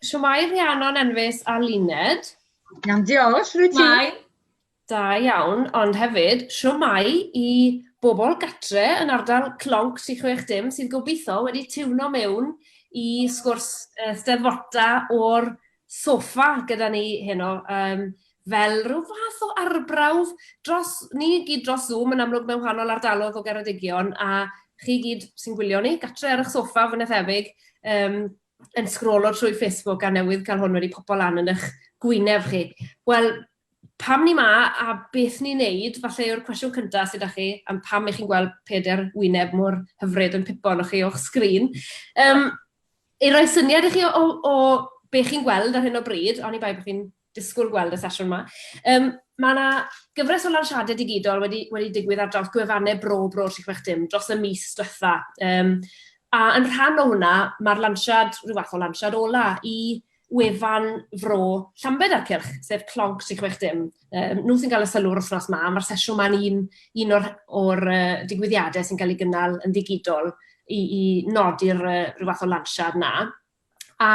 Siwmai Rhiannon Enfys a Luned. Iawn, diolch, rwy ti. Mai. Da iawn, ond hefyd, siwmai i bobl gatre yn ardal Clonc 360 sydd gobeithio wedi tiwno mewn i sgwrs uh, steddfota o'r soffa gyda ni heno, yym, fel rhyw fath o arbrawf dros... ni i gyd dros Zoom yn amlwg mewn wahanol ardalodd o Geredigion, a chi i gyd sy'n gwylio ni, gatre ar 'ych soffa fwy na thebyg, yym, yn sgrolo trwy Facebook a newydd cael hwn wedi popo lan yn 'ych gwyneb chi. Wel, pam ni 'ma a beth ni'n neud, falle yw'r cwestiwn cynta sy 'da chi, am pam 'ych chi'n gweld pedair wyneb mor hyfryd yn pipo arnoch chi o'ch sgrin. Yym, I roi syniad i chi o, o, o be chi'n gweld ar hyn o bryd, ond i bai bod chi'n disgwyl gweld y sesiwn yma, um, mae yna gyfres o lansiadau digidol wedi, wedi digwydd ar draws gwefannau Bro Bro 360 dros y mis diwetha. Um, a yn rhan o hwnna, mae'r lansiad, rhyw fath o lansiad ola i wefan Fro Llambed a'r cylch, sef Clogg 360. Yym, nhw sy'n cael y sylw yr wythnos 'ma, a ma'r sesiwn 'ma'n un un o'r o'r yy digwyddiade sy'n cael eu gynnal yn ddigidol i i nodi'r yy ryw fath o lansiad 'na. A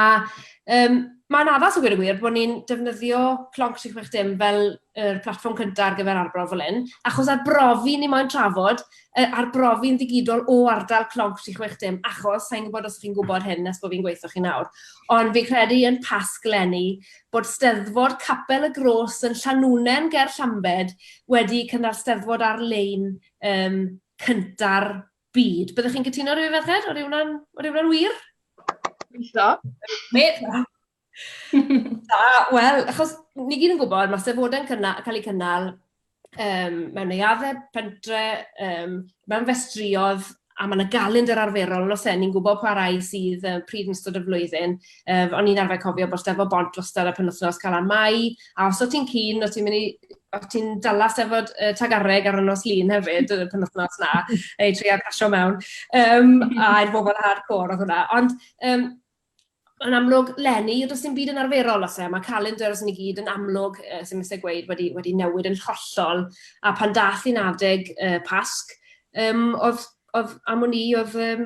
yym, ma'n addas a gweud y gwir bod ni'n defnyddio Clogg 360 fel yr platfform cyntaf ar gyfer arbrof fel hyn, achos ar brofi ni moyn trafod, yy ar brofi'n ddigidol o ardal clog 360, achos sa'n gwybod os chi'n gwybod hyn nes bod fi'n gweithio chi nawr, ond fi'n credu yn Pasg 'leni bod Steddfod Capel y Gros yn Llanwnnen ger Llambed wedi cynnal Steddfod ar-lein um, cynta'r byd. Byddwch chi'n cytuno rhywun ferched? O'r yw'n wir? Gobeithio. Da, wel, achos ni gyd yn gwybod, mae sefydlodau'n cynna- cael eu cynnal yym mewn neuaddau pentre, yym mewn festrïoedd, a mae 'na galendr arferol, yn oes e, ni'n gwybod pa rai sydd yy pryd yn ystod y flwyddyn. Yy, o'n i'n arfer cofio bod Steddfod Bont wastad ar penwythnos Calan Mai, a os o't ti'n keen, o't ti'n mynd i... o't ti'n dala Steddfod yy Tregarreg ar y nos Lun hefyd y penwythnos 'na, neu trio casio mewn, yym, a i'r bobl hardcore oedd hwnna. Ond yym... yn amlwg, lenni, does dim byd yn arferol os e. Mae calendars ni gyd yn amlwg, uh, sy'n mysau gweud, wedi, wedi newid yn hollol. A pan dath i'n adeg uh, Pasg, um, oedd, oedd am o'n i, oedd um,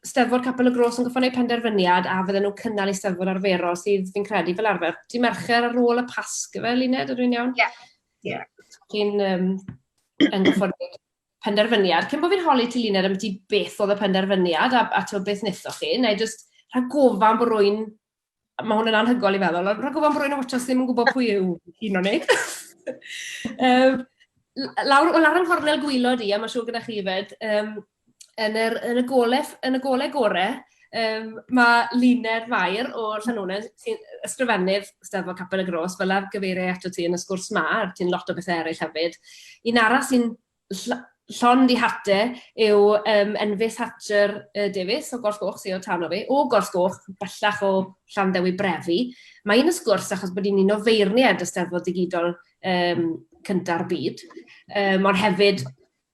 Steddfod Capel y Gros yn gofyn eu penderfyniad a fydden nhw'n cynnal ei steddfod arferol sydd fi'n credu fel arfer. Di mercher ar ôl y Pasg, fe, Luned, ydw i'n iawn? Ie. Yeah. Yeah. Chi'n um, yn gofyn penderfyniad, cyn bo fi'n holi ti Luned ambyti beth oedd y penderfyniad a a tibod beth wnaethoch chi, wna i jyst rhag gofan bod rywun, ma' hwn yn anhygoel i feddwl, ond rhag gofan bod rywun yn watsio sy ddim yn gwybod pwy yw un o ni. um, lawr, lawr yng nghornel gwylod i, a mae'n siŵr gyda chi fyd, um, yn, yr, yn, y gole, yn y gole gore, Yym, mae Luned Mair o Llanonen, sy'n ysgrifennydd Steddfod Capel y Gros, fel arfer gyfeiriai ato ti yn y sgwrs 'ma, a ti'n lot o bethe eraill hefyd. Un arall sy'n ll- llond ei hat e yw yym Enfys Hatcher yy Davies o Gollgoch, sy o tan o fi, o Gollgoch, bellach o Llanddewi Brefi. Mae hi'n y sgwrs achos bod hi'n un o feirniaid y Steddfod Digidol yym cynta'r byd, yym ond hefyd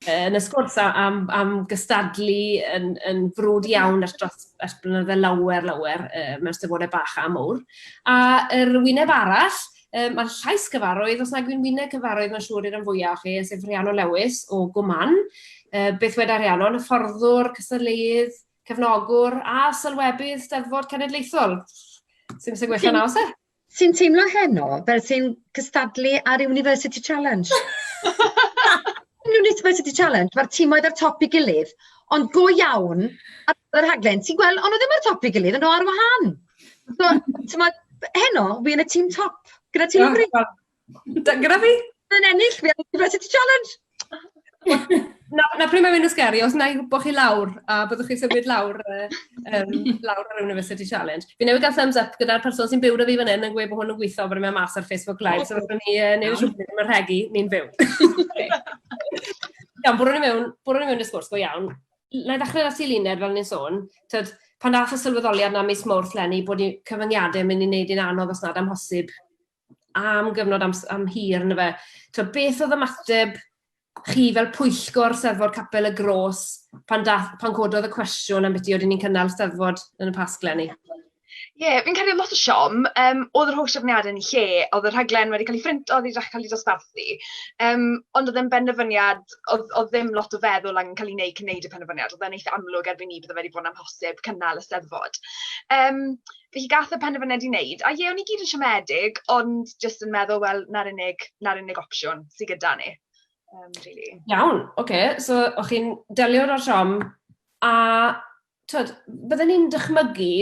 yn y sgwrs a- am am gystadlu yn yn frwd iawn ers dros ers blynydde lawer lawer yy mewn steddfode bach a mowr. A yr wyneb arall yym ma'r llais gyfarwydd os nag yw'n wyneb cyfarwydd ma'n siŵr i'r rhan fwya' o chi yy sef Rhiannon Lewis o Go Man. Yy beth weda Rhiannon, hyfforddwr, cystadleuydd, cefnogwr a sylwebydd Steddfod Cenedlaethol. Sim isie gwella na o's e? Ti'n teimlo heno fel ti'n cystadlu ar University Challenge? University Challenge, mae'r tîmoedd ar top i gilydd, ond go iawn ar gyfer y rhaglen, ti'n gweld, ond nhw ddim ar top i gilydd, ond nhw ar wahân. So, ti'n heno, fi yn y tîm top, gyda tîm o Bryn. Da, gyda fi? Yn ennill, fi am University Challenge! na, na pryd mae'n mynd yn sgeri, os na i gwybod chi lawr, a byddwch chi'n symud lawr, um, lawr ar University Challenge. Fi newid gael thumbs up gyda'r person sy'n byw da fi fan hyn yn gweud bod hwn yn gweithio, bod yn mynd mas ar Facebook Live, so fydden ni uh, neu rhywbeth yn yr hegi, ni'n fyw. Iawn, bwrwn ni mewn, bwrwn ni mewn i'r sgwrs go iawn. Na i ddechrau ati Luned, fel ni'n sôn. Tyd, pan dath y sylweddoliad na mis mawrth lenni bod cyfyngiadau yn mynd i wneud i'n anodd os nad amhosib am gyfnod am, am hir, yna fe. Twa, beth oedd ymateb chi fel pwyllgor Steddfod Capel y Gros pan, dath, pan cododd y cwestiwn am beth i oedd ni'n cynnal Steddfod yn y Pasg lenni? Ie, yeah, fi'n credu lot o siom. Um, oedd yr holl trefniadau yn lle, oedd y rhaglen wedi cael ei ffrint, oedd wedi dechrau cael ei dosbarthu. Um, ond oedd e'n benderfyniad, oedd, oedd ddim lot o feddwl angen cael ei wneud cyn wneud y penderfyniad. Oedd e'n eitha amlwg erbyn ni bydde wedi bod yn amhosib cynnal y steddfod. Um, Felly gath e penderfyniad i wneud, a ie, o'n ni gyd yn siomedig, ond jyst yn meddwl, wel, 'na'r unig 'na'r unig opsiwn sy gyda ni, yym, rili. Iawn, ocê, so o'ch chi'n delio 'da'r siom, a tw'od, bydden i'n dychmygu,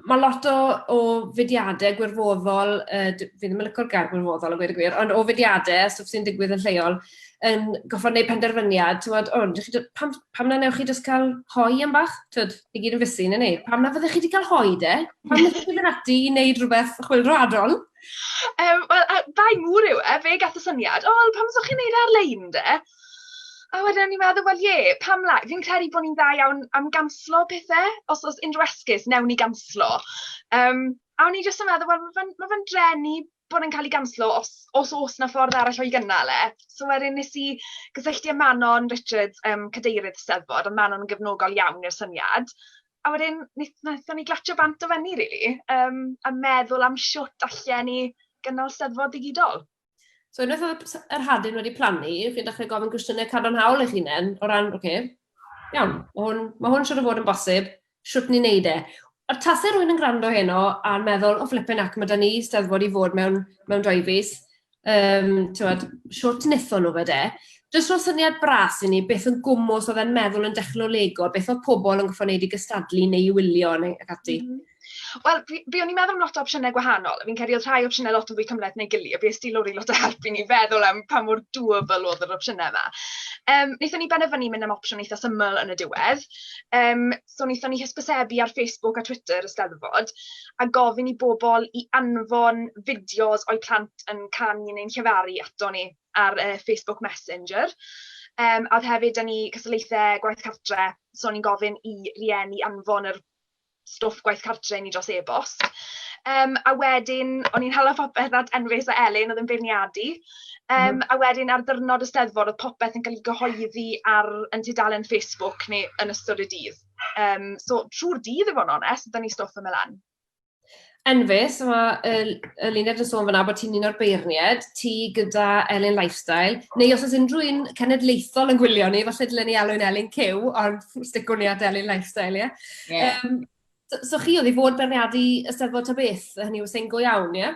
ma' lot o o fudiade gwirfoddol, yy, d- fi ddim yn licio'r gair gwirfoddol a gweud y gwir, ond o fudiade, stwff sy'n digwydd yn lleol, yn gorffod neud penderfyniad, t'mod, o, dach chi jys- pam pam na newch chi jyst ca'l hoi am bach, tw'od? I gyd yn fysu, neu neu. Pam na fyddech chi wedi cael hoi de? Pam na fyddech chi wedi ati i wneud rhywbeth chwildro adron? Um, Wel, bai mŵr yw e, fe gath y syniad, o, pam ydych chi'n neud e ar-lein de? A wedyn ni'n meddwl, wel ie, pam la? Fi'n credu bod ni'n dda iawn am ganslo pethau, os oes unrhyw esgus, newn ni ganslo. Um, a o'n i jyst yn meddwl, wel, mae fe'n ma fe drenu bod e'n cael ei ganslo os os oes 'na ffordd arall o'i gynnal e. So wedyn wnes i gysylltu â Manon Richards, yym cadeirydd y Steddfod, oedd Manon yn gefnogol iawn i'r syniad, a wedyn wnaeth wnaethon ni glatsio bant o fyny rili, yym a meddwl am shwt allen ni gynnal Steddfod ddigidol. So unwaith oedd yr hadyn wedi plannu, chi'n dechrau gofyn cwestiynau cadarnhaol eich hunain o ran, oce, iawn, mae hwn, mae hwn siŵr o fod yn bosib, shwt ni'n neud e. Ond tase rywun yn gwrando heno a meddwl, o flippin heck, ma' 'da ni Eisteddfod i fod mewn, mewn dou fis, yym, t'mod, shwt nethon nhw fe de? Jyst roi syniad bras i ni, beth yn gwmws oedd e'n meddwl yn dechnolegol, beth oedd pobl yn gorfod neud i gystadlu neu i wylio neu ac ati. M-hm. Wel, fi, fi o'n i'n meddwl am lot o opsiynau gwahanol, a fi'n credu oedd rhai opsiynau lot yn fwy cymhleth neu gili, a bues di lori lot o help i ni feddwl am pa mor doable oedd yr opsiynau yma. Um, wnaethon ni benderfynu mynd am opsiwn eitha syml yn y diwedd, Yym, so wnaethon ni hysbysebu ar Facebook a Twitter y 'Steddfod, a gofyn i bobl i anfon fideos o'u plant yn canu neu'n llefaru ato ni ar yy Facebook Messenger. Yym, a oedd hefyd 'da ni cystadlaethau gwaith cartre, so o'n i'n gofyn i rieni anfon yr stwff gwaith cartre i ni dros e-bost. Um, a wedyn, o'n i'n hala phopeth at Enfys a Elin, oedd yn beirniadu. Um, mm. A wedyn ar ddyrnod y steddfod, oedd popeth yn cael ei gyhoeddi ar yn tudalen Facebook neu yn ystod y dydd. Um, so, trwy'r dydd, i fod yn onest, da ni stwff yn mynd lan. Enfys, a mae y, y luned yn sôn fyna bod ti'n un o'r beirniaid, ti gyda Elin Lifestyle, neu os oes unrhyw un cenedlaethol yn gwylio ni, falle dylen ni alw'n Elin Cyw, ond sticwn ni at Elin Lifestyle, ie? Yeah. Yeah. Um, so, so chi oedd i fod berniadu y Steddfod ta beth, hynny yw sy'n go iawn, ie?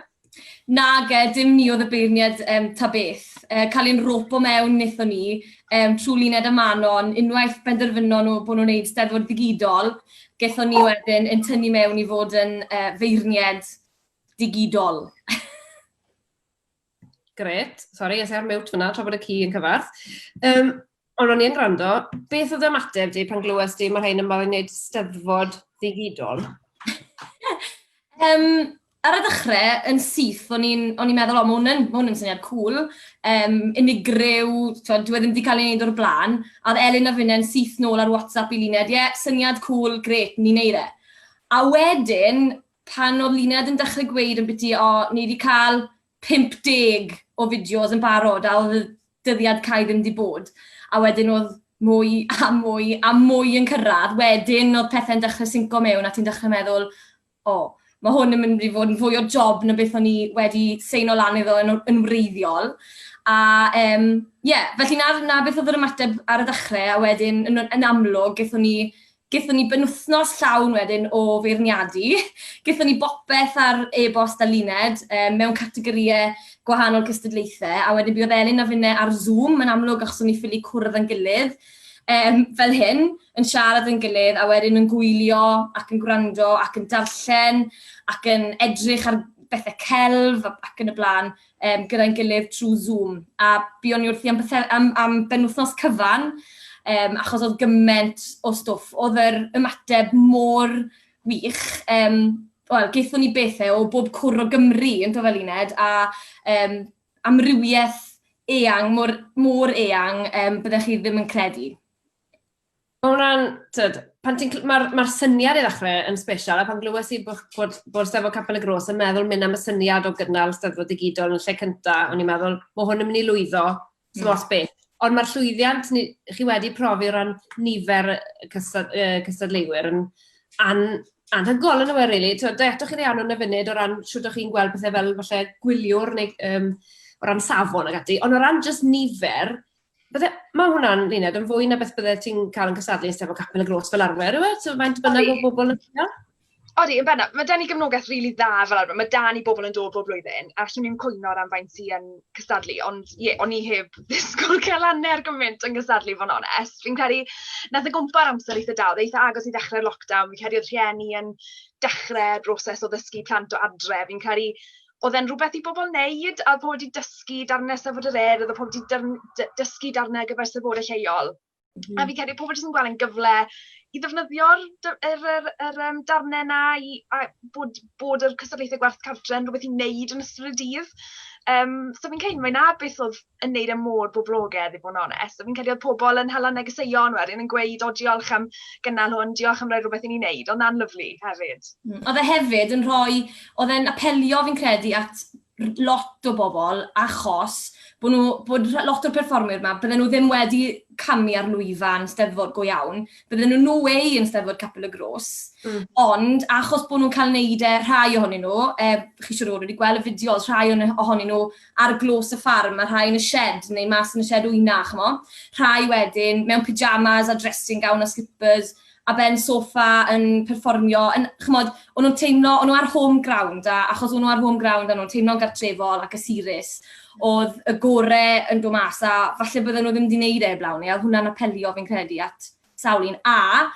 Na, ge, dim ni oedd y beirniad um, ta beth. Uh, cael ein ropo mewn nithon ni um, trwy luned y manon, unwaith benderfynon nhw bod nhw'n gwneud steddfod ddigidol, Gaethon ni wedyn ein tynnu mewn i fod yn feirniaid digidol. Grêt. Sori, es i ar mute fan'na tra bod y ci yn cyfarth. Yym, ond ro'n i yn gwrando. Beth oedd ymateb di pan glywes di ma' rhein yn barod i neud Steddfod ddigidol? Yym, ar y ddechrau yn syth, o'n i'n meddwl, o, mae hwn yn, ma hwn yn syniad cool, um, unigryw, dwi e ddim wedi cael ei wneud o'r blaen, a oedd Elin a Finnau'n syth nôl ar WhatsApp i Luned, ie, yeah, syniad cool, gret, ni'n neud e. A wedyn, pan oedd Luned yn dechrau gweud yn biti, o, ni wedi cael 50 o fideos yn barod, a oedd y dyddiad cael ddim wedi bod. A wedyn oedd mwy a mwy a mwy yn cyrraedd, wedyn oedd pethau'n dechrau synco mewn a ti'n dechrau meddwl, O, ma' hwn yn mynd i fod yn fwy o job na beth o'n i wedi seino lan iddo yn yn wreiddiol. A yym ie, felly 'na 'na beth oedd yr ymateb ar y ddechrau, a wedyn yn yn amlwg gethon ni gethon ni benwythnos llawn wedyn o feirniadu. Gethon ni bopeth ar e-bost a luned um, mewn categorïau gwahanol cystadlaethau, a wedyn buodd Elin a finne ar Zoom yn amlwg achos o'n ni ffili cwrdd yn gilydd. Yym, fel hyn, yn siarad yn gilydd a wedyn yn gwylio ac yn gwrando ac yn darllen ac yn edrych ar bethau celf ac yn y blaen um, gyda'n gilydd trwy Zoom. A buon ni wrthi am, am, am benwythnos cyfan, um, achos oedd gymaint o stwff. Oedd yr ymateb mor wych. Um, Wel, geithon ni bethau o bob cwr o Gymru, yn fel Luned, a um, amrywiaeth eang, mor, mor eang, um, byddech chi ddim yn credu. Mae hwnna'n, tyd, pan ti'n, mae'r ma syniad i ddechrau yn special, a pan glywes i bod, bod, bod Steddfod Capel y Gros yn meddwl mynd am y syniad o gynnal Steddfod Digidol yn lle cyntaf, o'n i'n meddwl, mae hwn yn mynd i lwyddo, mm. os beth. Ond mae'r llwyddiant ni, chi wedi profi o ran nifer y cystad, uh, cystadleuwyr yn, an, anhygoel yn yw rili. Really. Da eto chi ddeall nhw'n y funud o ran siwt o'ch chi'n gweld pethau fel falle gwyliwr neu um, o ran safon ag ati. Ond o ran just nifer, bydde, mae hwnna'n luned yn fwy na beth bydde ti'n cael yn cysadlu yn sefo capel y gros fel arfer, yw e? So faint bynnag o bobl yn yna? Odi, yn bennaf, mae da ni gefnogaeth rili really dda fel arfer. Mae da ni bobl yn dod bob blwyddyn, a llwn ni'n cwyno ran faint sy'n cystadlu, ond ie, o'n i heb ddisgwyl cael hanner gymaint yn gystadlu i fod yn onest. Fi'n credu, wnaeth e gwmpa ar amser eitha da, oedd e eitha agos i ddechrau'r lockdown, fi'n credu oedd rhieni yn dechrau'r broses o ddysgu plant o adre, fi'n credu oedd e'n rhywbeth i bobl wneud, a oedd pobl wedi dysgu darnau Eisteddfod yr Urdd, oedd pobl wedi dysgu darnau ar gyfer Eisteddfodau lleol. A fi'n credu pobl jyst yn gweld e'n gyfle i ddefnyddio'r d- yr yr yr yym darnau 'na i a- bod bod yr cystadlaethau gwerth cartref yn rywbeth i wneud yn ystod y dydd. Yym so fi'n credu mai 'na beth oedd yn wneud e mor boblogaidd i fod yn onest. So fi'n credu oedd pobl yn hala negeseuon wedyn yn gweud "o diolch am gynnal hwn, diolch am roi rhywbeth i ni wneud". Oedd 'na'n lyfli hefyd. Oedd e hefyd yn rhoi... oedd e'n apelio fi'n credu at lot o bobl achos bod nhw... bod rh- lot o'r perfformwyr 'ma, bydden nhw ddim wedi camu ar lwyfan Steddfod go iawn, bydden nhw no way yn Steddfod Capel y Gros... Mm. ...ond achos bod nhw'n cael wneud e, rhai ohonyn nhw, yy chi siŵr o fod wedi gweld y fideos, rhai o'n- ohonyn nhw ar Glos y Ffarm a rhai yn y sied neu mas yn y sied wyna chimod, rhai wedyn mewn pyjamas a dressing gown a slippers, a Ben Sofa yn perfformio yn... chimod, o'n nhw'n teimlo, o'n nhw ar home ground a achos o'n nhw ar home ground o'n nhw'n teimlo'n gartrefol a cysurus, oedd y gorau yn dod mas a falle bydden nhw ddim wedi wneud e heblaw ni a oedd hwnna'n apelio fi'n credu at sawl un. A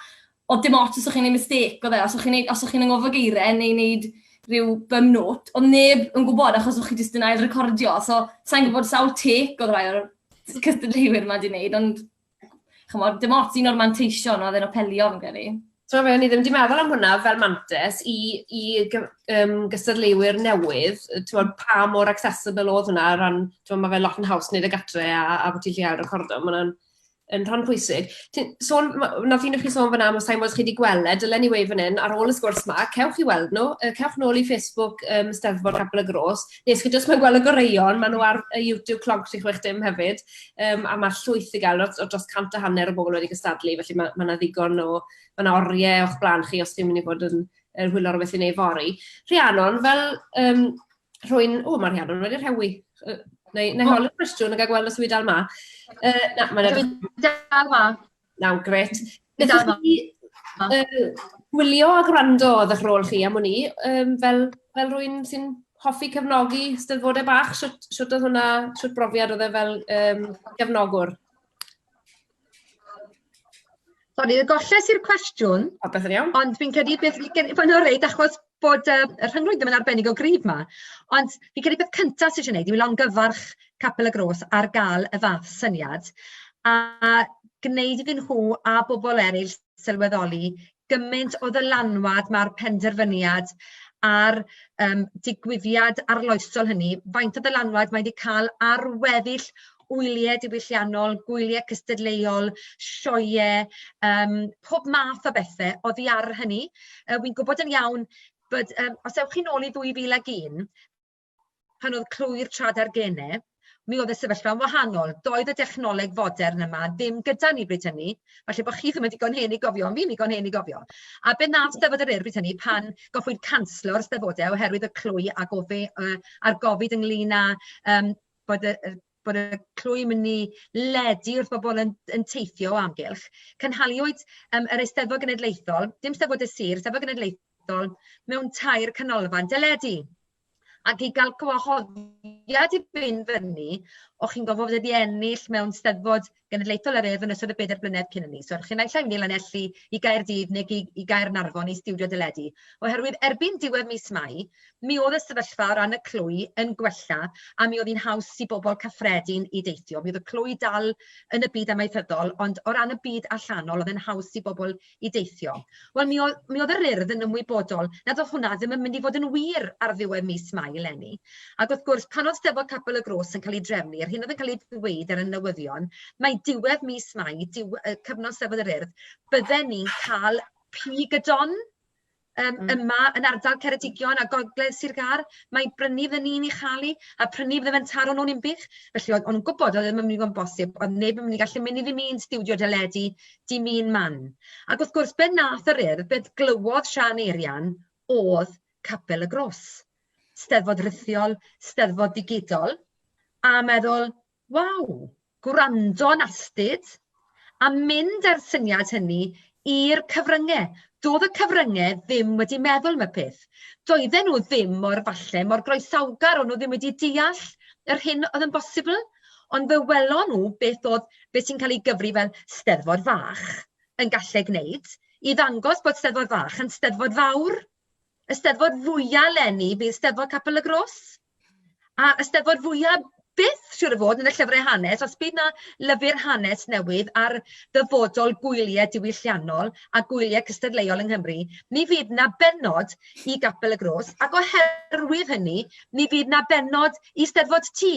oedd dim ots os o'ch chi'n wneud mistake oedd e, os o'ch chi'n wneud... os o'ch chi'n anghofio geiriau neu wneud rhyw bum note, oedd neb yn gwybod achos o'ch chi jyst yn ail-recordio. So sa i'n gwybod sawl take oedd rhai o'r cystadleuwyr 'ma 'di wneud ond... chymod, dim ots un o'r manteision oedd e'n apelio fi'n credu. Ti'n fe, ni ddim wedi meddwl am hwnna fel mantis i, i um, gystadleuwyr newydd, ti'n pa mor accessible oedd hwnna, ran, ti'n mae fe lot yn haws wneud y gatre a, a bod ti'n lleol recordo, mae hwnna'n yn rhan pwysig. Sôn, na ddyn chi sôn fyna, mae Simons chi wedi gweld, e, dylen ni wei fan hyn, ar ôl y sgwrs ma, cewch chi weld nhw, cewch nôl i Facebook um, Steddfod Capel y Gros, nes chi jyst mae'n gweld y goreuon, maen nhw ar y YouTube clog 36 dim hefyd, um, a mae llwyth i gael, o dros cant a hanner o bobl wedi gystadlu, felly mae yna ma ddigon o, mae yna oriau o'ch blaen chi os chi'n mynd i fod yn er hwyl o'r beth i wneud fori. Rhiannon, fel um, rwy'n... O, mae Rhiannon wedi rhewi. Uh, neu, neu holi'r cwestiwn yn cael gweld os yw'n dal ma. Uh, na, mae'n edrych... Dal ma. Nawr, grêt. Beth am chi gwylio a gwrando oedd eich rôl chi am hwn i, um, fel, fel rwy'n sy'n hoffi cefnogi steddfodau bach, sut, sut oedd hwnna, sut brofiad oedd e fel um, gefnogwr? Sori, y golles i'r cwestiwn. O, beth yn iawn. Ond fi'n credu beth fi gen... Fy nhw'n reid, achos bod yy y rhyngrwyd ddim yn arbennig o gryf 'ma, ond fi'n credu peth cynta sy isie neud yw longyfarch Capel y Gros ar ga'l y fath syniad, a gneud iddyn nhw a bobol eryll sylweddoli gyment o ddylanwad ma'r penderfyniad a'r yym digwyddiad arloesol hynny, faint o ddylanwad mae 'di ca'l ar weddill gwyliau diwylliannol, gwyliau cystadleuol, sioeau, um, pob math o bethau oddi ar hynny. Uh, Wy'n gwybod yn iawn bod, um, os ewch chi'n ôl i 2001, pan oedd clwy'r trad ar genau, mi oedd y sefyllfa'n wahanol. Doedd y dechnoleg fodern yma ddim gyda ni bryd hynny. Falle bod chi ddim yn digon hen i gofio, ond fi'n digon hen i gofio. A be nath Steddfod yr Ur bryd hynny pan goffwyd canslo'r Steddfodau oherwydd y clwy a gofi, uh, a'r gofid ynglyn â um, bod y y bod y clwy yn mynd i ledu wrth bobl yn yn teithio o amgylch, cynhaliwyd yym yr Eisteddfod Genedlaethol, dim Steddfod y Sir, Eisteddfod Genedlaethol mewn tair canolfan deledu. Ac i gael gwahoddiad i fynd fyny, o'ch chi'n gorfod wedi ennill mewn Steddfod genedlaethol yr Urdd yn ystod y bedair blynedd cyn hynny. So, chi'n naill ai mynd i Lanelli, i Gaerdydd neu i, i Gaernarfon i stiwdio deledu. Oherwydd erbyn diwedd mis Mai, mi oedd y sefyllfa o ran y clwy yn gwella a mi oedd hi'n haws i bobl cyffredin i deithio. Mi oedd y clwy dal yn y byd amaethyddol, ond o ran y byd allanol, oedd yn haws i bobl i deithio. Wel, mi oedd, mi oedd yr urdd yn ymwybodol nad oedd hwnna ddim yn mynd i fod yn wir ar ddiwedd mis Mai eleni. Ac wrth gwrs, pan oedd Steddfod Capel y Gros yn cael ei drefnu, yr hyn oedd yn cael ei ddweud ar y newyddion, mae diwedd mis Mai, diw, cyfnod Steddfod yr Urdd, bydden ni'n cael pig y don yym yma yn ardal Ceredigion a gogledd Sir Gâr, mae brynu fy ni'n ei chael i, a prynu fydde fe'n taro nhw'n unbych. Felly oedd o'n gwybod oedd e ddim yn mynd i fod yn bosib, oedd neb yn mynd i gallu mynd i ddim un stiwdio deledu, dim un man. Ac wrth gwrs, be wnaeth yr Urdd, be glywodd Siân Eirian oedd Capel y Gros, 'Steddfod rithiol, 'Steddfod digidol, a meddwl, Waw! Gwrando'n astud, a mynd â'r syniad hynny i'r cyfrynge. Do'dd y cyfrynge ddim wedi meddwl am y peth. Doedden nhw ddim mor falle mor groesawgar, o'n nhw ddim wedi deall yr hyn oedd yn bosibl, ond fe welon nhw beth o'dd be' sy'n cael ei gyfri fel Steddfod fach yn galle gneud i ddangos bod Steddfod fach yn Steddfod fawr. Y Steddfod fwya' leni fydd Steddfod Capel y Gros. A Eisteddfod fwya byth, siŵr o fod, yn y llyfrau hanes, os bydd 'na lyfr hanes newydd ar ddyfodol gwyliau diwylliannol a gwyliau cystadleuol yng Nghymru, mi fydd 'na bennod i Gapel y Gros, ac oherwydd hynny, mi fydd 'na bennod i Steddfod Ty.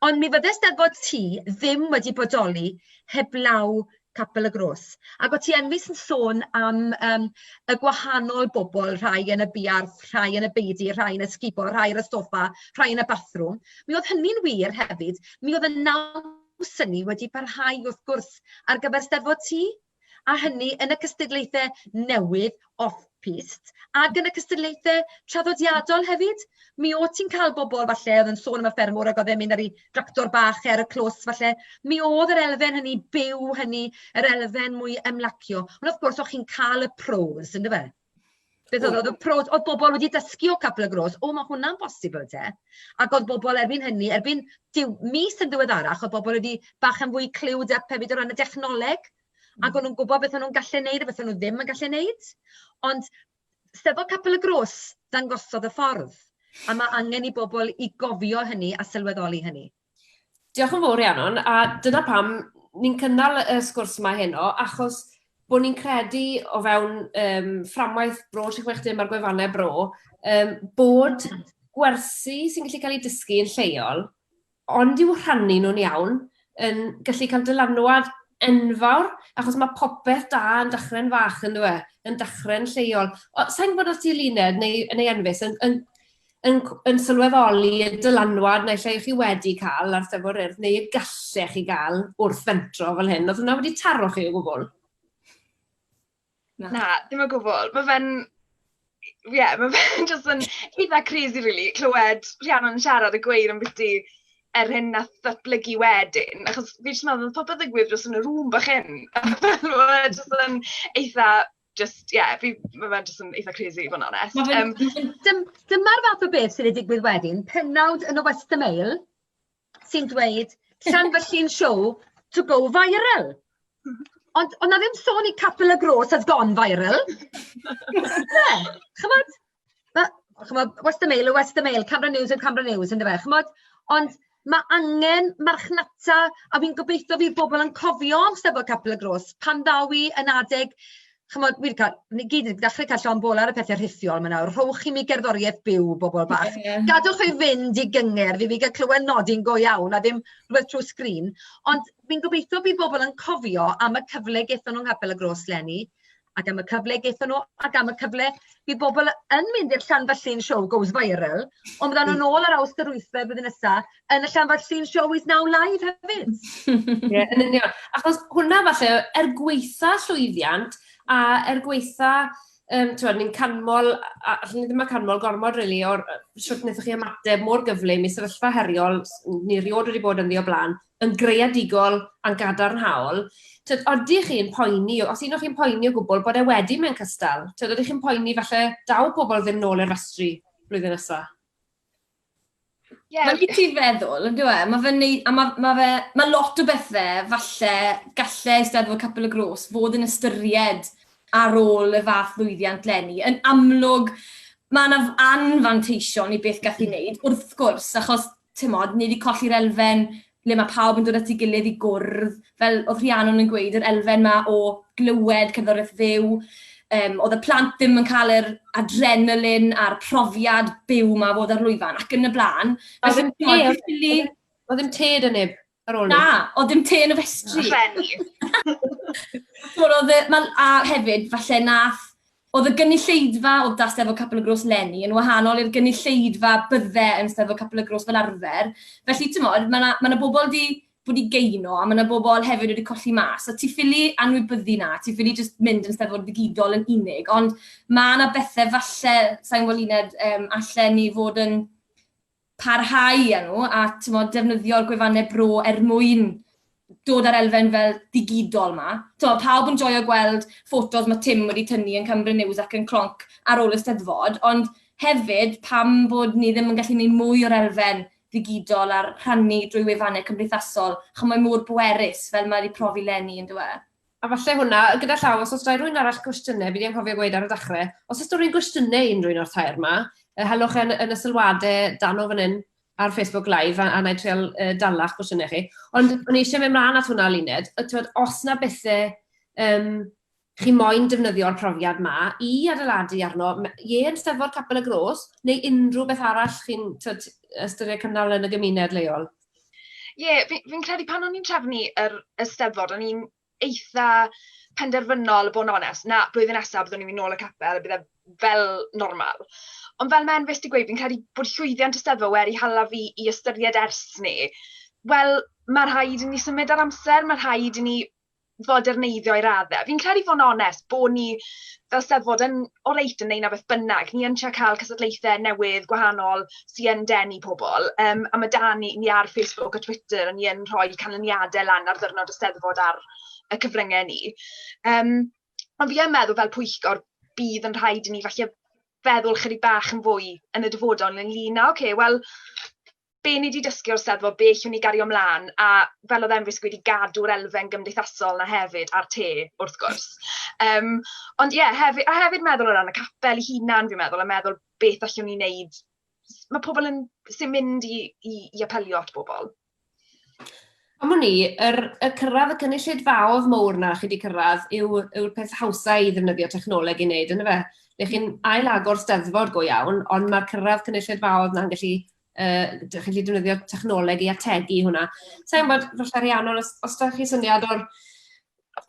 Ond mi fydde 'Steddfod T ddim wedi bodoli heblaw Capel y Groes, ac o' ti enwys yn sôn am yym y gwahanol bobl, rhai yn y buarth, rhai yn y beudy, rhai yn y sgubo, rhai ar y soffa, rhai yn y bathrwm, mi o'dd hynny'n wir hefyd, mi o'dd y naws yni wedi parhau wrth gwrs ar gyfer 'Steddfod T. a hynny yn y cystadlaethau newydd off-pist ac yn y cystadlaethau traddodiadol hefyd. Mi o't ti'n cael bobl falle oedd yn sôn am y ffermwr ac oedd e'n mynd ar ei dractor bach e ar y clws falle. Mi oedd yr elfen hynny byw hynny, yr elfen mwy ymlacio. Ond wrth gwrs, o'ch chi'n cael y pros, yndyfe? Beth oedd, oedd y pros, oedd bobl wedi dysgu o Capel y Gros, o mae hwnna'n bosibl te. Ac oedd bobl erbyn hynny, erbyn diw, mis yn ddiweddarach, oedd bobl wedi bach yn fwy clywed up hefyd o ran y dechnoleg, ac mm. o'n nhw'n gwybod beth o'n nhw'n gallu neud a beth o'n nhw ddim yn gallu neud. Ond sefo Capel y Gros, dangosodd y ffordd. A mae angen i bobl i gofio hynny a sylweddoli hynny. Diolch yn fawr Rhiannon, a dyna pam ni'n cynnal y sgwrs yma heno, achos bod ni'n credu o fewn um, fframwaith bro 360 mae'r gwefannau bro, um, bod gwersi sy'n gallu cael ei dysgu yn lleol, ond i'w rhannu nhw'n iawn, yn gallu cael dylanwad enfawr, achos mae popeth da yn dachrau'n fach yn dweud, yn dachrau'n lleol. Sa'n gwybod os ti'n luned neu, neu enfus, yn, yn, yn cw- yn sylweddoli y dylanwad naill ai 'ych chi wedi cael ar Steddfod yr Urdd, neu y gallech chi gael wrth fentro fel hyn. Oedd hwnna wedi taro chi o gwbl? Na, dim o gwbl. Mae fe'n... Ie, yeah, mae fe'n jyst yn eitha crazy, really, clywed Rhiannon yn siarad a gweud am beth er hyn na ddatblygu wedyn, achos fi jyst yn meddwl, oedd popeth yn gwir dros yn y rŵm bach hyn. Fel, oedd e jyst yn eitha Jyst ie, fi... ma' fe jyst yn eitha crazy i fod yn onest. Ma' fe'n ma' fe'n... Dym- dyma'r fath o beth sy'n digwydd wedyn, pennawd yn y West Mail sy'n dweud Llanfyllin show to go viral. Ond o'dd 'na ddim sôn i Capel y Gross has gone viral. O's e? Ch'mod? fel chimod, what's the mail, oh what's the mail, camera news oh camera news yndyfe, chimod, ond ma' angen marchnata a fi'n gobeitho fydd pobl yn cofio am Steddfod Capel y Gros pan ddaw i yn adeg chimod, wi 'di cael, ni gyd wedi dechrau cael llond bol ar y pethe rhithiol 'ma nawr, rhowch i mi gerddoriaeth byw, bobl bach, gadwch i fynd i gyngerdd i fi gael clywed nodi'n go iawn a ddim rhywbeth trwy sgrin, ond fi'n gobeitho bydd bobl yn cofio am y cyfle gaethon nhw yng Nghapel y Gros 'leni, ac am y cyfle gaethon nhw, ac am y cyfle bydd bobl yn mynd i'r Llanfallin Show goes viral, ond fyddan nhw'n ôl ar Awst yr wythfed flwyddyn nesa yn y Llanfallin Show is now live hefyd. Ie, yn union. Achos hwnna falle, er gweitha llwyddiant a er gweitha um, ti'n ni'n canmol, a allwn ni ddim yn canmol gormod rili really, o'r sut wnaethoch chi ymateb mor gyflym i sefyllfa heriol ni rioed wedi bod yn ddi o blaen, yn greadigol a'n gadarnhaol, t'od, odych chi'n poeni, os un o chi'n poeni o gwbl, bod e wedi mynd cystal? T'od, odych chi'n poeni falle daw pobl ddim nôl i'r festri blwyddyn nesa? Ie. Mae'n neud ti feddwl, on'd yw e? Ma' fe'n neu-... A ma' ma' fe... Ma' lot o bethe falle galle Eisteddfod Capel y Gros fod yn ystyried ar ôl y fath lwyddiant 'leni. Yn amlwg ma' 'na f- anfanteision i beth ga'th 'i neud, wrth gwrs, achos timod, ni wedi colli'r elfen le mae pawb yn dod at ei gilydd i gwrdd, fel oedd Rhiannon yn gweud, yr elfen yma o glywed cerddoriaeth fyw, um, oedd y plant ddim yn cael yr adrenalin a'r profiad byw yma fod ar lwyfan ac yn y blaen. Oedd ddim ted yn neb. Ar ôl Na, oedd dim te yn y festri. Rheni. Wel, oedd e... Mae, a hefyd, falle nath... Oedd y gynulleidfa oedd da Steddfod Capel y Gros Lenny yn wahanol i'r gynulleidfa bydde yn Steddfod Capel y Gros fel arfer. Felly, timod, mae yna ma yna bobl 'di bod i geuno a mae yna bobl hefyd wedi colli mas. So ti ffili anwybyddu 'na, ti ffili jyst mynd yn Steddfod ddigidol yn unig. Ond mae yna bethe falle, sa i'n gwybod Luned, yym, allen ni fod yn parhau â nhw a timod defnyddio'r gwefannau bro er mwyn dod â'r elfen fel digidol ma. Tibod, pawb yn joio gweld ffotos mae Tim wedi tynnu yn Cymru News ac yn Clonc ar ôl y Steddfod, ond hefyd pam bod ni ddim yn gallu gwneud mwy o'r elfen ddigidol a'r rhannu drwy wefannau cymdeithasol, chimod, mae mor bwerus fel mae 'di profi 'leni, yn dyw e? A falle hwnna, gyda llaw, os oes da rwy'n arall gwestiynau, fi di anghofio gweud ar y dachrau, os oes da rwy'n gwestiynau i unrhyw'n o'r tair yma, helwch e yn y sylwadau dan o fan hyn ar Facebook Live, a na i trial dalach gwestiynau chi. Ond o'n i eisiau mynd mlaen at hwnna, Luned, os na bethau um, chi moyn defnyddio'r profiad ma i adeiladu arno, ie yn steddfod Capel y Gros, neu unrhyw beth arall chi'n ystyried cynnal yn y gymuned leol? Ie, yeah, fi'n fi credu pan o'n i'n trefnu yr Eisteddfod, o'n i'n eitha penderfynol, bod yn onest, na, blwyddyn nesaf byddwn ni'n mynd nôl y capel, bydde fel normal. Ond fel mae'n fes di gweud, fi'n credu bod llwyddiant Eisteddfod wedi hala fi i ystyried ers ni. Wel, mae rhaid i ni symud ar amser, mae rhaid i ni foderneiddio i radde. Fi'n credu fod yn onest, bod ni fel Steddfod yn oreit yn wneud 'na beth bynnag. Ni yn trio cael cystadlaethau newydd, gwahanol, sy yn denu pobl. Yym, a ma' 'da ni... ni ar Facebook a Twitter, ni yn rhoi canlyniadau lan ar ddiwrnod y Steddfod ar y cyfryngau ni. Yym, ond fi yn meddwl fel pwyllgor, bydd yn rhaid i ni falle feddwl ychydig bach yn fwy yn y dyfodol ynglŷn â, ocê, wel, be ni 'di dysgu o'r Steddfod, be allwn ni gario mlaen, a fel oedd Emrys yn gweud, i gadw'r elfen gymdeithasol 'na hefyd, a'r te, wrth gwrs. Yym, ond ie, hefyd... a hefyd meddwl o ran y capel ei hunan, fi'n meddwl, a meddwl beth allwn ni wneud... ma' pobl yn... sy'n mynd i i i apelio at bobl. Am wn i, yr y cyrraedd y cynulleidfaoedd mowr 'na chi 'di cyrraedd yw yw'r peth hawsa i ddefnyddio technoleg i wneud, yndyfe? Lle chi'n ail-agor Steddfod go iawn, ond ma'r cyrraedd cynulleidfaoedd 'na'n gallu uh, dych chi'n defnyddio technoleg i ategu hwnna. Sa'n bod, falle ariannol, os, os da chi syniad o'r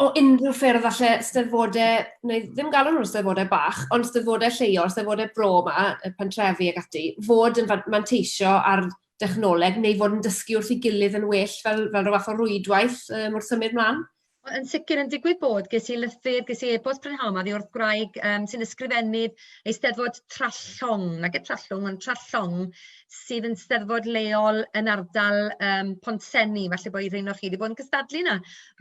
o unrhyw ffyrdd alle steddfodau, neu ddim galw nhw'n steddfodau bach, ond steddfodau lleol, steddfodau bro yma, y pentrefi ac ati, fod yn manteisio ar dechnoleg neu fod yn dysgu wrth ei gilydd yn well fel, fel rhyw fath o rwydwaith um, wrth symud mlaen? Wel yn sicr yn digwydd bod ges i lythyr ges i e-bost prynhawn 'ma oddi wrth gwraig yym sy'n ysgrifennu Eisteddfod Trallwng nage Trallwng ond Trallwng sydd yn steddfod leol yn ardal yym Pontsenni falle bo' un o chi 'di bod yn cystadlu 'na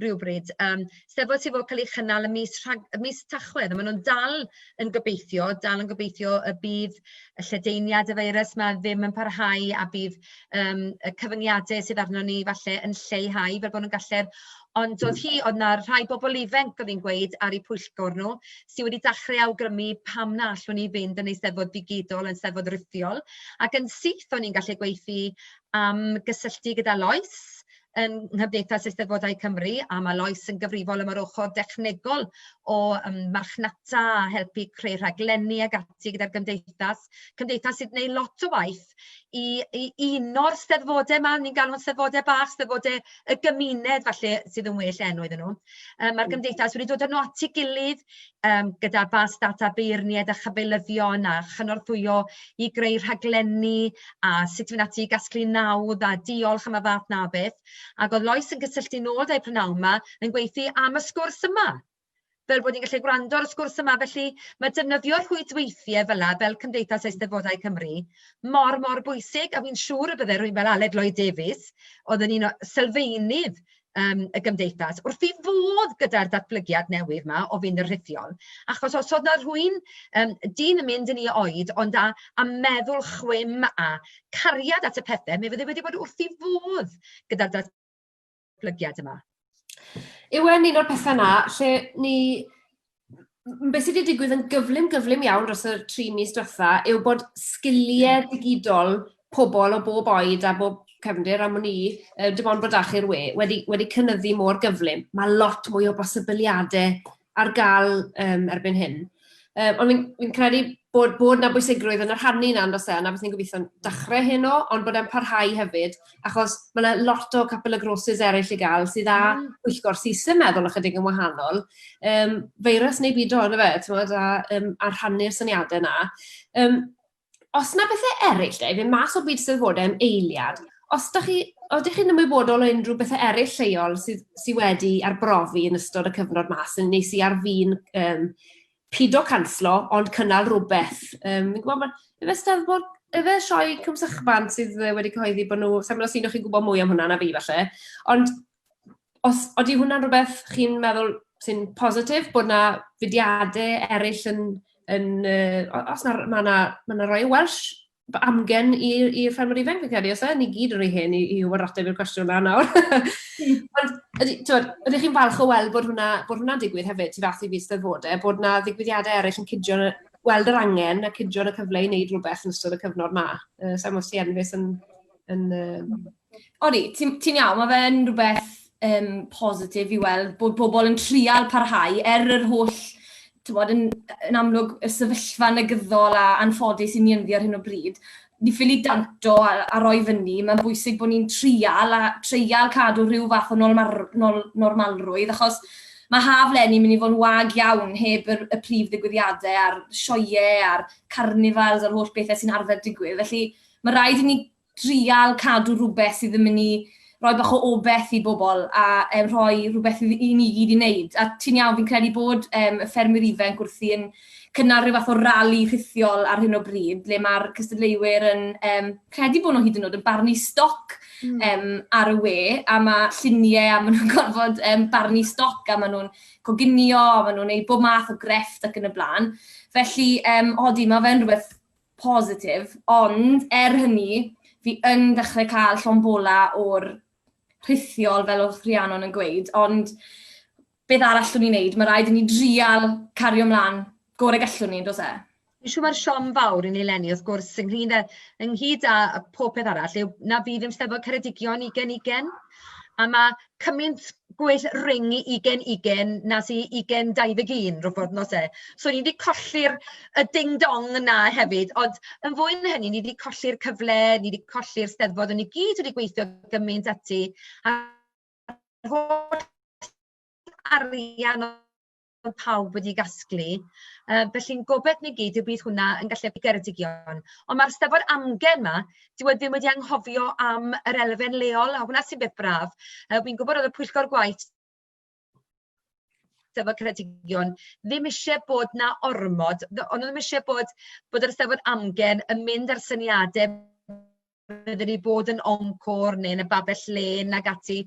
rywbryd yym steddfod sy fod ca'l ei chynnal ym mis Rhag- ym mis Tachwedd a ma' nw'n dal yn gobeithio dal yn gobeithio y bydd y lledaeniad y feirws 'ma ddim yn parhau a bydd yym y cyfyngiadau sydd arnon ni falle yn lleihau fel bod nhw'n gallu'r... Ond oedd hi... oedd 'na rhai bobl ifanc oedd hi'n gweud ar eu pwyllgor nhw sy wedi dechrau awgrymu pam na allwn ni fynd yn Eisteddfod ddigidol, yn Steddfod rhithiol ac yn syth o'n i'n gallu gweithio am gysylltu gyda Lois yn Nghymdeithas Eisteddfodau Cymru, a mae Lois yn gyfrifol am yr ochr dechnegol o yym marchnata a helpu creu rhaglenni ag ati gyda'r Gymdeithas. Cymdeithas sy'n gwneud lot o waith i i uno'r steddfodau 'ma, ni'n galw'n steddfodau bach, steddfodau y gymuned falle sydd yn well enw iddyn nhw. Yym mae'r Gymdeithas wedi dod â nhw at ei gilydd um, gyda bas data beirniaid a chyfeilyddion a chynorthwyo i greu rhaglenni a sut fi'n ati i gasglu nawdd a diolch am y fath na beth. Ac oedd Lois yn cysylltu nôl da'i prynawn yma yn gweithio am y sgwrs yma. Fel bod ni'n gallu gwrando ar y sgwrs yma, felly mae defnyddio rhwydweithiau fel yna, fel Cymdeithas Eisteddfodau Cymru, mor, mor bwysig, a fi'n siŵr y bydde rwy'n fel Aled Lloyd Davies, oedd yn un o sylfeinydd yym y gymdeithas wrth i fodd gyda'r datblygiad newydd 'ma o fynd yn rhithiol. Achos os oedd 'na rhywun, yym, dyn yn mynd yn ei oed, ond â â meddwl chwim a cariad at y pethe, mi fydde wedi bod wrth ei fodd gyda'r datblygiad yma. Yw e'n un o'r pethe 'na lle ni m- be sy 'di digwydd yn gyflym gyflym iawn dros y tri mis dwetha yw bod sgilie digidol pobol o bob oed a bob cefndir am wn i, yy dim ond bod 'da chi'r we, wedi wedi cynyddu mor gyflym. Ma' lot mwy o bosibiliade ar ga'l yym erbyn hyn. Yy ond fi'n fi'n credu bod bod 'na bwysigrwydd yn y rhannu 'na on'd o's e? A 'na beth ni'n gobitho dachre heno, ond bod e'n parhau hefyd. achos ma' 'na lot o couple of grocers eryll i ga'l sydd â... Hmm. ...pwyllgor syth yn meddwl ychydig yn wahanol. Yym, feirws neu bido on'd yfe, t'mod, a yym a rhannu'r syniade 'na. Yym, os 'na bethe eryll de, i fyn' mas o byd sylwade am eiliad, os 'dach chi, odych chi'n ymwybodol o unrhyw bethe eryll lleol sydd sy wedi arbrofi yn ystod y cyfnod 'ma, sy'n nes i ar fin yym pido canslo, ond cynnal rhywbeth. Um, fi'n gwybod, efe steddfod, efe sioe cymsychfan sydd wedi cyhoeddi bod nhw, sa'n meddwl sy'n o'ch chi'n gwybod mwy am hwnna na fi falle, ond os oeddi hwnna'n rhywbeth chi'n meddwl sy'n positif, bod na fudiadau eraill yn, yn uh, os na, mae na, ma na Royal Welsh amgen i'r i ffermwyr ifanc fi'n credu, os e, ni gyd yn rhy hen i, i wybod ateb i'r cwestiwn na nawr. Hmm. Ond, ydy, tywed, ydych chi'n falch o weld bod hwnna, bod hwnna digwydd hefyd, tu fath i fi steddfodau, e, bod yna ddigwyddiadau eraill yn cydio, weld yr angen a cydio y cyfle i wneud rhywbeth yn ystod y cyfnod ma. Uh, Sa'n os ti enfus yn, yn, yn, Odi, ti'n ti iawn, mae fe'n rhywbeth um, positif i weld bod pobl yn trial parhau er yr holl, ti'n bod, yn, yn amlwg y sefyllfa negyddol a anffodus i ni ynddi ar hyn o bryd. Ni ffili danto a, a roi fyny, mae'n bwysig bod ni'n trial a treial cadw rhyw fath o nolmar, nol, normalrwydd, achos mae haf lenni mynd i fod yn wag iawn heb y, y prif ddigwyddiadau a'r sioiau a'r carnifals a'r holl bethau sy'n arfer digwydd. Felly mae rhaid i ni trial cadw rhywbeth sydd yn mynd i roi bach o obeth i bobl a um, rhoi rhywbeth i, i ni gyd i wneud. A ti'n iawn, fi'n credu bod um, y ffermwyr ifanc wrthi yn cynnal rhyw fath o rali rhithiol ar hyn o bryd, le mae'r cystadleuwyr yn um, credu bod nhw hyd yn oed yn barnu stoc mm. um, ar y we, a mae lluniau a maen nhw'n gorfod um, barnu stoc a maen nhw'n coginio a maen nhw'n ei bob math o grefft ac yn y blaen. Felly, um, odi, mae fe'n rhywbeth positif, ond er hynny, fi yn dechrau cael llon bola o'r rhithiol fel oedd Rhiannon yn gweud, ond beth arall llwn ni'n neud? Mae rhaid i ni drial cario mlaen gore gallwn ni, dos e? Fi'n siŵr mae'r siom fawr i ni lenni, wrth gwrs, ynghyd â, ynghyd â pob peth arall, yw na fydd yn steddfod Ceredigion ugen ugen, a mae cymaint gwell ring i ugain ugain na sy i ugain dau ddeg un rywbeth nos e. So ni 'di colli'r y ding dong 'na hefyd, ond yn fwy na hynny ni 'di colli'r cyfle, ni 'di colli'r Steddfod, o'n i gyd wedi gweithio gymaint ati a holl arian bod pawb wedi gasglu. Uh, felly'n gobeth ni gyd yw bydd hwnna yn gallu helpu Geredigion. Ond mae'r stefo'r amgen yma, dyw e ddim wedi anghofio am yr elfen leol, a hwnna sy'n beth braf. Uh, Fi'n gwybod oedd y pwyllgor gwaith Steddfod Ceredigion ddim eisiau bod na ormod, ond ddim eisiau bod, bod yr Steddfod amgen yn mynd ar syniadau fydden ni bod yn Encôr neu yn y Babell Lên ac ati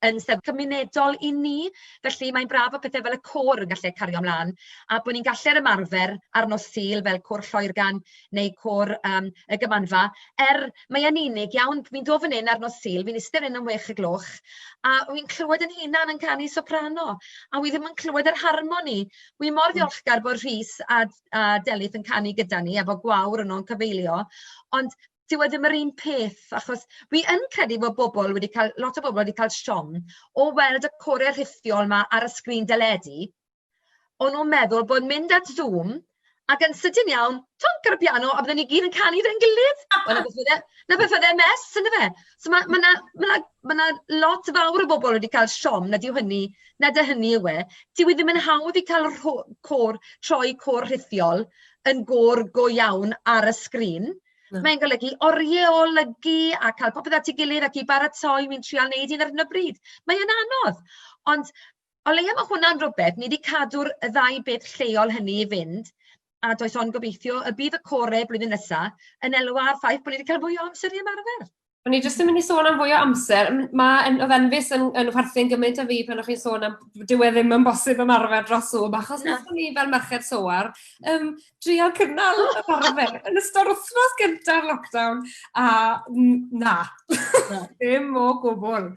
yn Steddfod cymunedol i ni. Felly, mae'n braf bod pethe fel y côr yn gallu cario mlaen a bod ni'n gallu ymarfer ar nos Sul fel Côr Lloergan neu Côr yym y Gymanfa, er mae e'n unig iawn, fi'n dod fan hyn ar nos Sul, fi'n iste fan hyn am wech o'r gloch a wi'n clywed yn hunan yn canu soprano a wi ddim yn clywed yr harmoni. Wi mor ddiolchgar bod Rhys a a Delyth yn canu gyda ni a bod Gwawr yno'n cyfeilio, ond dyw e ddim yr un peth, achos fi yn credu bod bobl wedi cael... lot o bobl wedi cael siom o weld y corau rhithiol 'ma ar y sgrin deledu, o'n nhw'n meddwl bod mynd at Zoom ac yn sydyn iawn, twonc ar y piano a bydden ni gyd yn canu 'da'n gilydd, wel 'na beth o'dd e 'na beth o'dd e Mess yndyfe? So ma' ma' 'na ma' 'na ma' 'na lot fawr o bobl wedi cael siom nad yw hynny nad yw hynny yw e, dyw e ddim yn hawdd i cael y rho- côr troi côr rhithiol yn gôr go iawn ar y sgrin, mae'n golygu orieolygu a cael popeth at ei gilydd ac i baratoi, wi'n trial neud un ar hyn o bryd. Mae e'n anodd, ond o leia ma' hwnna'n rwbeth, ni 'di cadw'r y ddau beth lleol hynny i fynd, a does ond gobeithio y bydd y core blwyddyn nesa yn elwa ar ffaith bo' ni 'di ca'l mwy o amser i ymarfer. O'n i jyst yn mynd i sôn am fwy o amser. M- Mae yn oedd Enfys yn yn chwerthin gymaint â fi pan o'ch chi'n sôn am dyw e ddim yn bosib ymarfer dros Zoom achos Na. wnaethon ni fel merched Soar yym dreial cynnal ymarfer yn ystod wythnos gynta'r lockdown a n- na, Na. ddim o gwbl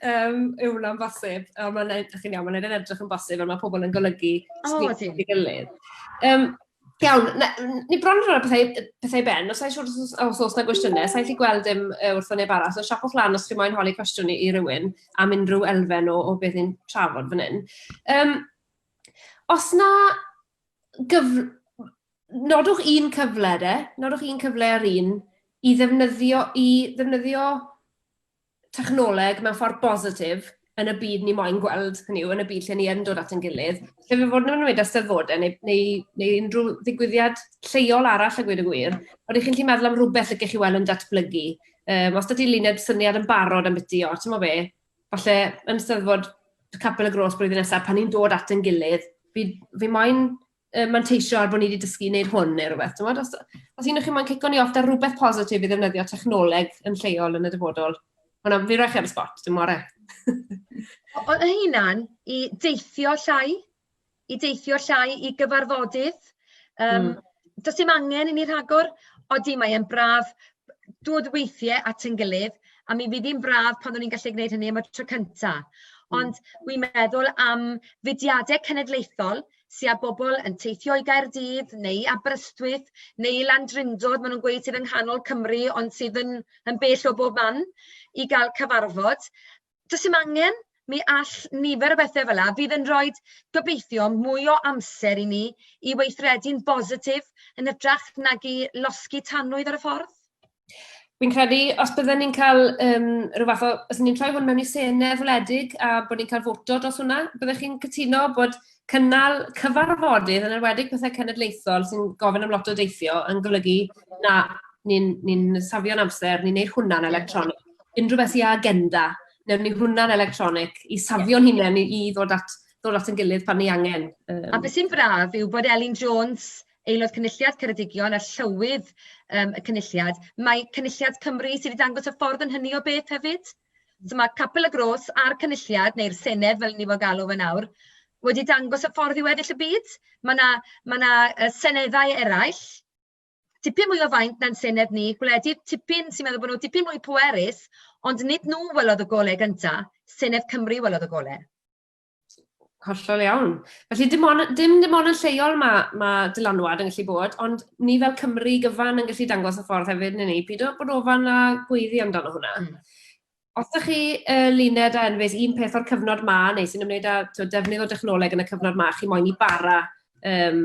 yym yw hwnna'n bosib. Ond mae'n neud, chi'n iawn, mae'n neud e'n edrych yn bosib a mae pobl yn golygu O, sy'n ydyn. ei gilydd. Yym, Iawn, ni bron yn rhoi pethau, pethau ben, os oes wrth os oes na gwestiynau, sa'n lli gweld dim wrth o neb arall, so siapwch lan os chi moyn holi cwestiwn i, i rywun am unrhyw elfen o, o beth ni'n trafod fan hyn. Um, os na gyf... nodwch un cyfle de, nodwch un cyfle ar un i ddefnyddio, i ddefnyddio technoleg mewn ffordd bositif yn y byd ni moyn gweld, hynny yw, yn y byd lle ni yn dod at ein gilydd, lle fe fod yn ymwneud â Steddfodau neu, neu, neu unrhyw ddigwyddiad lleol arall a gweud y gwir, ond ych chi'n gallu meddwl am rhywbeth y gech chi weld yn datblygu. Um, os da ti luned syniad yn barod am beth i, o, ti'n mo fe, falle yn Steddfod Capel y Gros blwyddyn nesaf, pan ni'n dod at ein gilydd, fi, fi moyn yy, manteisio ar bod ni wedi dysgu wneud hwn neu rhywbeth, ti'n Os, os un o'ch chi'n moyn cico ni off da rhywbeth positif i ddefnyddio technoleg yn lleol yn y dyfodol, hwnna, fi roi chi ar y spot, dim more. o hynna'n i deithio llai, i deithio llai i gyfarfodydd. Um, mm. Does dim angen i ni rhagor, odi mae e'n braf dod weithiau at yn gilydd, a mi fydd hi'n braf pan o'n i'n gallu gwneud hynny am y tro cyntaf. Hmm. Ond wi'n meddwl am fudiadau cenedlaethol sy â bobl yn teithio i Gaerdydd neu i Aberystwyth neu i Landrindod, maen nhw'n gweud sydd yng nghanol Cymru ond sydd yn, yn bell o bob man i gael cyfarfod. Does dim angen, mi all nifer o bethau fel yna fydd yn rhoi gobeithio mwy o amser i ni i weithredu'n bositif yn hytrach nag i losgi tanwydd ar y ffordd. Fi'n credu, os bydden ni'n cael um, rhyw fath o... Os ni'n troi hwn mewn i senedd wledig a bod ni'n cael foto dros hwnna, byddech chi'n cytuno bod cynnal cyfarfodydd yn enwedig pethau cenedlaethol sy'n gofyn am lot o deithio yn golygu na ni'n ni, ni safio'n amser, ni'n neud hwnna'n electronig. Unrhyw beth i agenda, newn ni hwnna'n electronig i safio'n hunain i, i ddod at ddod at yn gilydd pan ni angen. Um... A beth sy'n braf yw bod Elin Jones Aelod Cynulliad Ceredigion a Llywydd yym y Cynulliad, mae Cynulliad Cymru sydd wedi dangos y ffordd yn hynny o beth hefyd, so mae Capel y Gros a'r Cynulliad, neu'r Senedd fel ni fo galw fe nawr, wedi dangos y ffordd i weddill y byd, ma' 'na ma' 'na yy seneddau eraill, tipyn mwy o faint na'n Senedd ni, gwledydd tipyn sy'n meddwl bod nhw dipyn mwy pwerus, ond nid nhw welodd y golau gynta, Senedd Cymru welodd y golau. Hollol iawn. Felly dim ond, dim dim ond yn lleol mae, mae dylanwad yn gallu bod, ond ni fel Cymru gyfan yn gallu dangos y ffordd hefyd, neu ni, pyd o bod ofan a gweiddi amdano hwnna. Mm. Os ydych chi uh, luned a enfys un peth o'r cyfnod ma, neu sy'n ymwneud â defnydd o dechnoleg yn y cyfnod ma, chi moyn i bara um,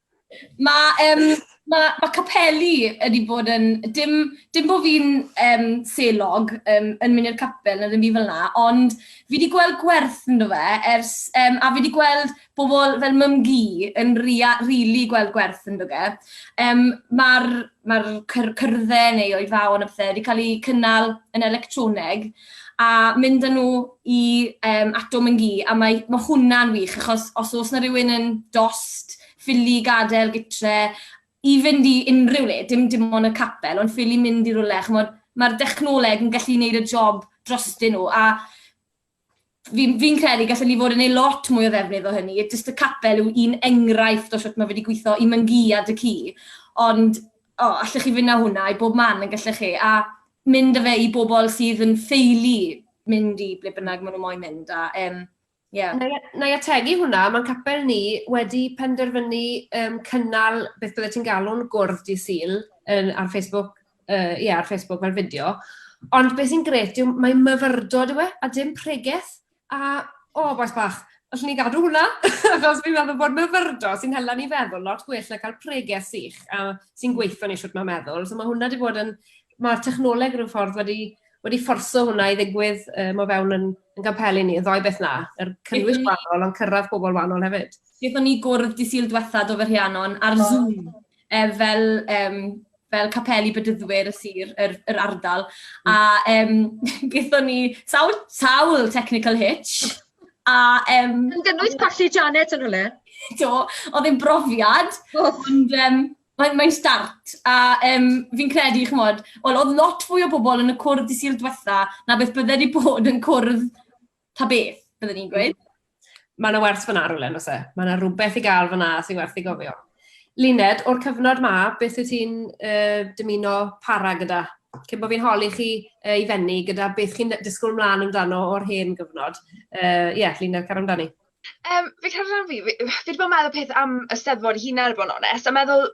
Mae um, ma, ma capeli wedi bod yn... Dim, dim bod fi'n um, selog um, yn mynd i'r capel neu ddim byd fel yna, ond fi wedi gweld gwerth yn fe, ers, um, a fi wedi gweld bobl fel mym gi yn rili really gweld gwerth yn fe. Um, Mae'r mae'r cyr cyrddau neu oedfaon a pethe wedi cael eu cynnal yn electroneg a mynd â nhw i um, Atom yn Gi. A mae, mae hwnna'n wych, achos os oes na rhywun yn dost, ffili gadael gytre, i fynd i unrhyw le, dim dim ond y capel, ond ffili mynd i rhywle, chymod, mae'r dechnoleg yn gallu gwneud y job drostyn nhw. A fi'n fi'n credu gallen ni fod yn ei lot mwy o ddefnydd o hynny. Jyst y capel yw un enghraifft o sut mae wedi gweithio i myngu a dy ci. Ond, o, oh, allech chi fynd â hwnna i bob man yn gallech chi. A mynd â fe i bobl sydd yn ffeili mynd i ble bynnag maen nhw moyn mynd. A, um, Yeah. Na, na i ategu hwnna, mae'n capel ni wedi penderfynu um, cynnal beth byddai ti'n galw'n gwrdd di syl yn, ar Facebook uh, yeah, ar Facebook fel fideo. Ond beth sy'n gret yw mae myfyrdod yw e, a dim pregeth. A, o, oh, boes bach, allwn ni gadw hwnna, achos fi'n meddwl bod myfyrdod sy'n hela ni feddwl lot gwell na cael pregeth sych a sy'n gweithio ni siwt mae meddwl. So mae hwnna wedi bod yn, mae'r technoleg rhyw ffordd wedi, wedi fforso hwnna i ddigwydd um, o fewn yn, yn gampelu ni, yn ddoi beth na, yr cynnwys wahanol ond cyrraedd pobl wahanol hefyd. Bydd o'n ni gwrdd di syl diwethaf o fy rhianon ar oh. Zoom Yy, fel yym fel capeli Bedyddwyr y sir, yr yr ardal. A yym gaethon ni sawl sawl technical hitch, a yym... Yn gynnwys colli Janet yn rhywle? Do, oedd e'n brofiad, ond yym mae'n mae'n start. A yym fi'n credu, chimod, wel oedd lot fwy o bobl yn y cwrdd dydd Sul diwetha 'na beth bydde 'di bod yn cwrdd Ta beth, byddwn i'n gweud. Mae yna werth fyna rhywle, nos e. Mae yna rhywbeth i gael fyna sy'n werth i gofio. Luned, o'r cyfnod ma, beth wyt ti'n uh, dymuno para gyda? Cyn bod fi'n holi chi uh, i fenni gyda beth chi'n disgwyl mlaen amdano o'r hen gyfnod. Ie, uh, yeah, Luned, car amdani. Um, fi cael rhan fi, fi wedi bod yn meddwl peth am y steddfod hyn ar y bod yn onest, a meddwl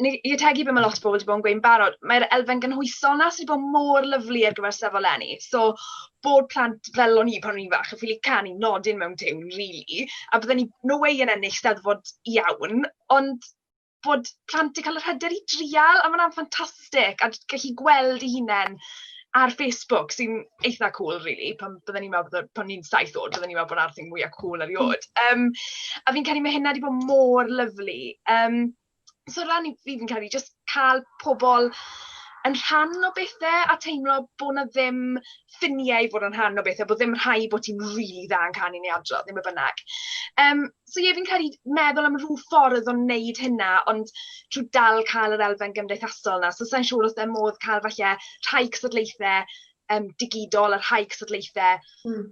ni, i ategu beth mae lot o bobl wedi bod yn gweud yn barod, mae'r elfen gynhwysol yna sydd wedi bod mor lyflu ar gyfer sefyll lenni. So, bod plant fel o'n i pan o'n i'n fach, yn ffili canu nodyn mewn tiwn, rili, a bydden ni no way yn ennill steddfod iawn, ond bod plant wedi cael yr hyder i drial, a mae hwnna'n ffantastig, a gallu gweld ei hunain ar Facebook, sy'n eitha cŵl, rili, pan bydden ni'n meddwl bod o... pan o'n i'n saith oed, bydden ni'n meddwl bod 'na'r thing mwya cŵl erioed. Yym, a fi'n credu mae hynna wedi bod mor lyflu. Yym... So ran i fi fi'n credu jyst cael pobl yn rhan o bethe a teimlo bod 'na ddim ffiniau i fod yn rhan o bethe, bod ddim rhaid bod ti'n rili dda yn canu neu adrodd neu be bynnag. Yym, so ie, fi'n credu meddwl am ryw ffordd o wneud hynna, ond trwy dal cael yr elfen gymdeithasol 'na. So sa i'n siŵr os o'dd modd cael falle rhai cystadlaethau yym digidol a rhai cystadlaethau... Hmm.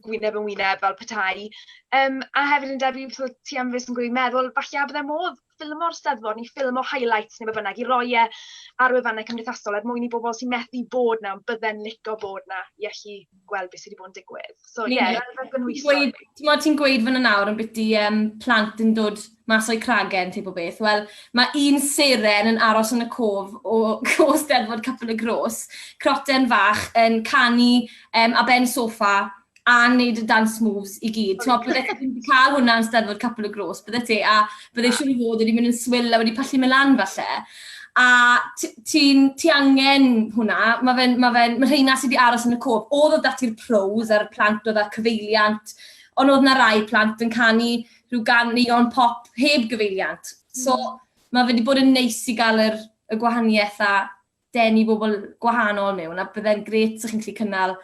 gwyneb yn wyneb fel petai. Um, a hefyd yn debyg, so ti am fes yn gwneud meddwl, falle bydde modd ffilm o'r steddfod neu ffilm o highlights neu bynnag i roi e ar wefannau cymdeithasol er mwyn i bobl sy'n methu bod na, ond bydde'n lico bod na i allu gweld beth sydd wedi bod yn digwydd. So ie, yeah, rhywbeth yn wyso. Ti'n gweud fan yna nawr yn byti um, plant yn dod Mae Soy Cragen, tip o beth. Wel, mae un seren yn aros yn y cof o, o Steddfod Capel y Gros, croten fach yn canu um, a ben sofa a wneud y dance moves i gyd. Ti'n meddwl, bydde ti'n cael hwnna yn Steddfod Capel y Gros, bydde ti, a bydde siwr i fod wedi mynd yn swyl a wedi pallu mewn lan falle. A ti'n ti angen hwnna, mae fe'n, mae fe'n, mae rheina sydd wedi aros yn y cof. Oedd oedd dati'r pros a'r plant oedd â'r cyfeiliant, ond oedd na rai plant yn canu rhyw gan neon pop heb gyfeiliant. So, mm. mae wedi bod yn neis i gael yr, y gwahaniaeth a denu bobl gwahanol mewn, a byddai'n gret sy'ch chi'n gallu cynnal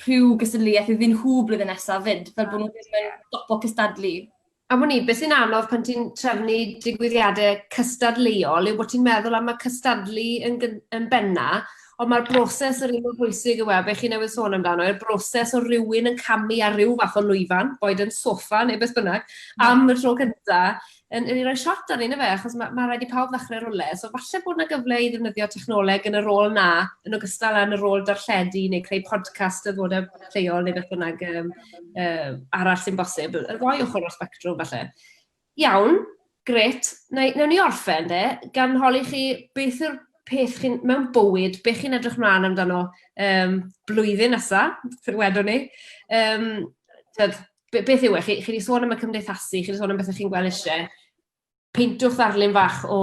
rhyw gystadleuaeth iddyn nhw blwyddyn nesaf fyd, fel bod nhw ddim yn stopo cystadlu. A mwyn i, beth sy'n anodd pan ti'n trefnu digwyddiadau cystadleuol yw bod ti'n meddwl am y cystadlu yn, yn benna, Ond mae'r broses yr un mor bwysig yw e, be chi newydd sôn amdano, i'r broses o rywun yn camu ar ryw fath o lwyfan, boed yn soffa neu beth bynnag, am y tro cynta, yn, yn ei roi shot arnyn nhw fe, achos mae, mae rhaid i pawb ddechrau rwle. So falle bod yna gyfle i ddefnyddio technoleg yn y rôl na, yn ogystal â yn y rôl darlledu neu creu podcast y ddod y lleol neu beth bynnag um, um, arall sy'n bosib. Y ddoi ochr o'r spectrwm falle. Iawn, grêt. Wna i... wnawn ni orffen de, gan holi chi beth yw'r peth chi'n... mewn bywyd, be chi'n edrych mlaen amdano yym blwyddyn nesa, fel wedon ni. Yym tibod, be- beth yw e? Chi chi 'di sôn am y cymdeithasu, chi 'di sôn am bethe chi'n gweld isie. Peintwch ddarlun fach o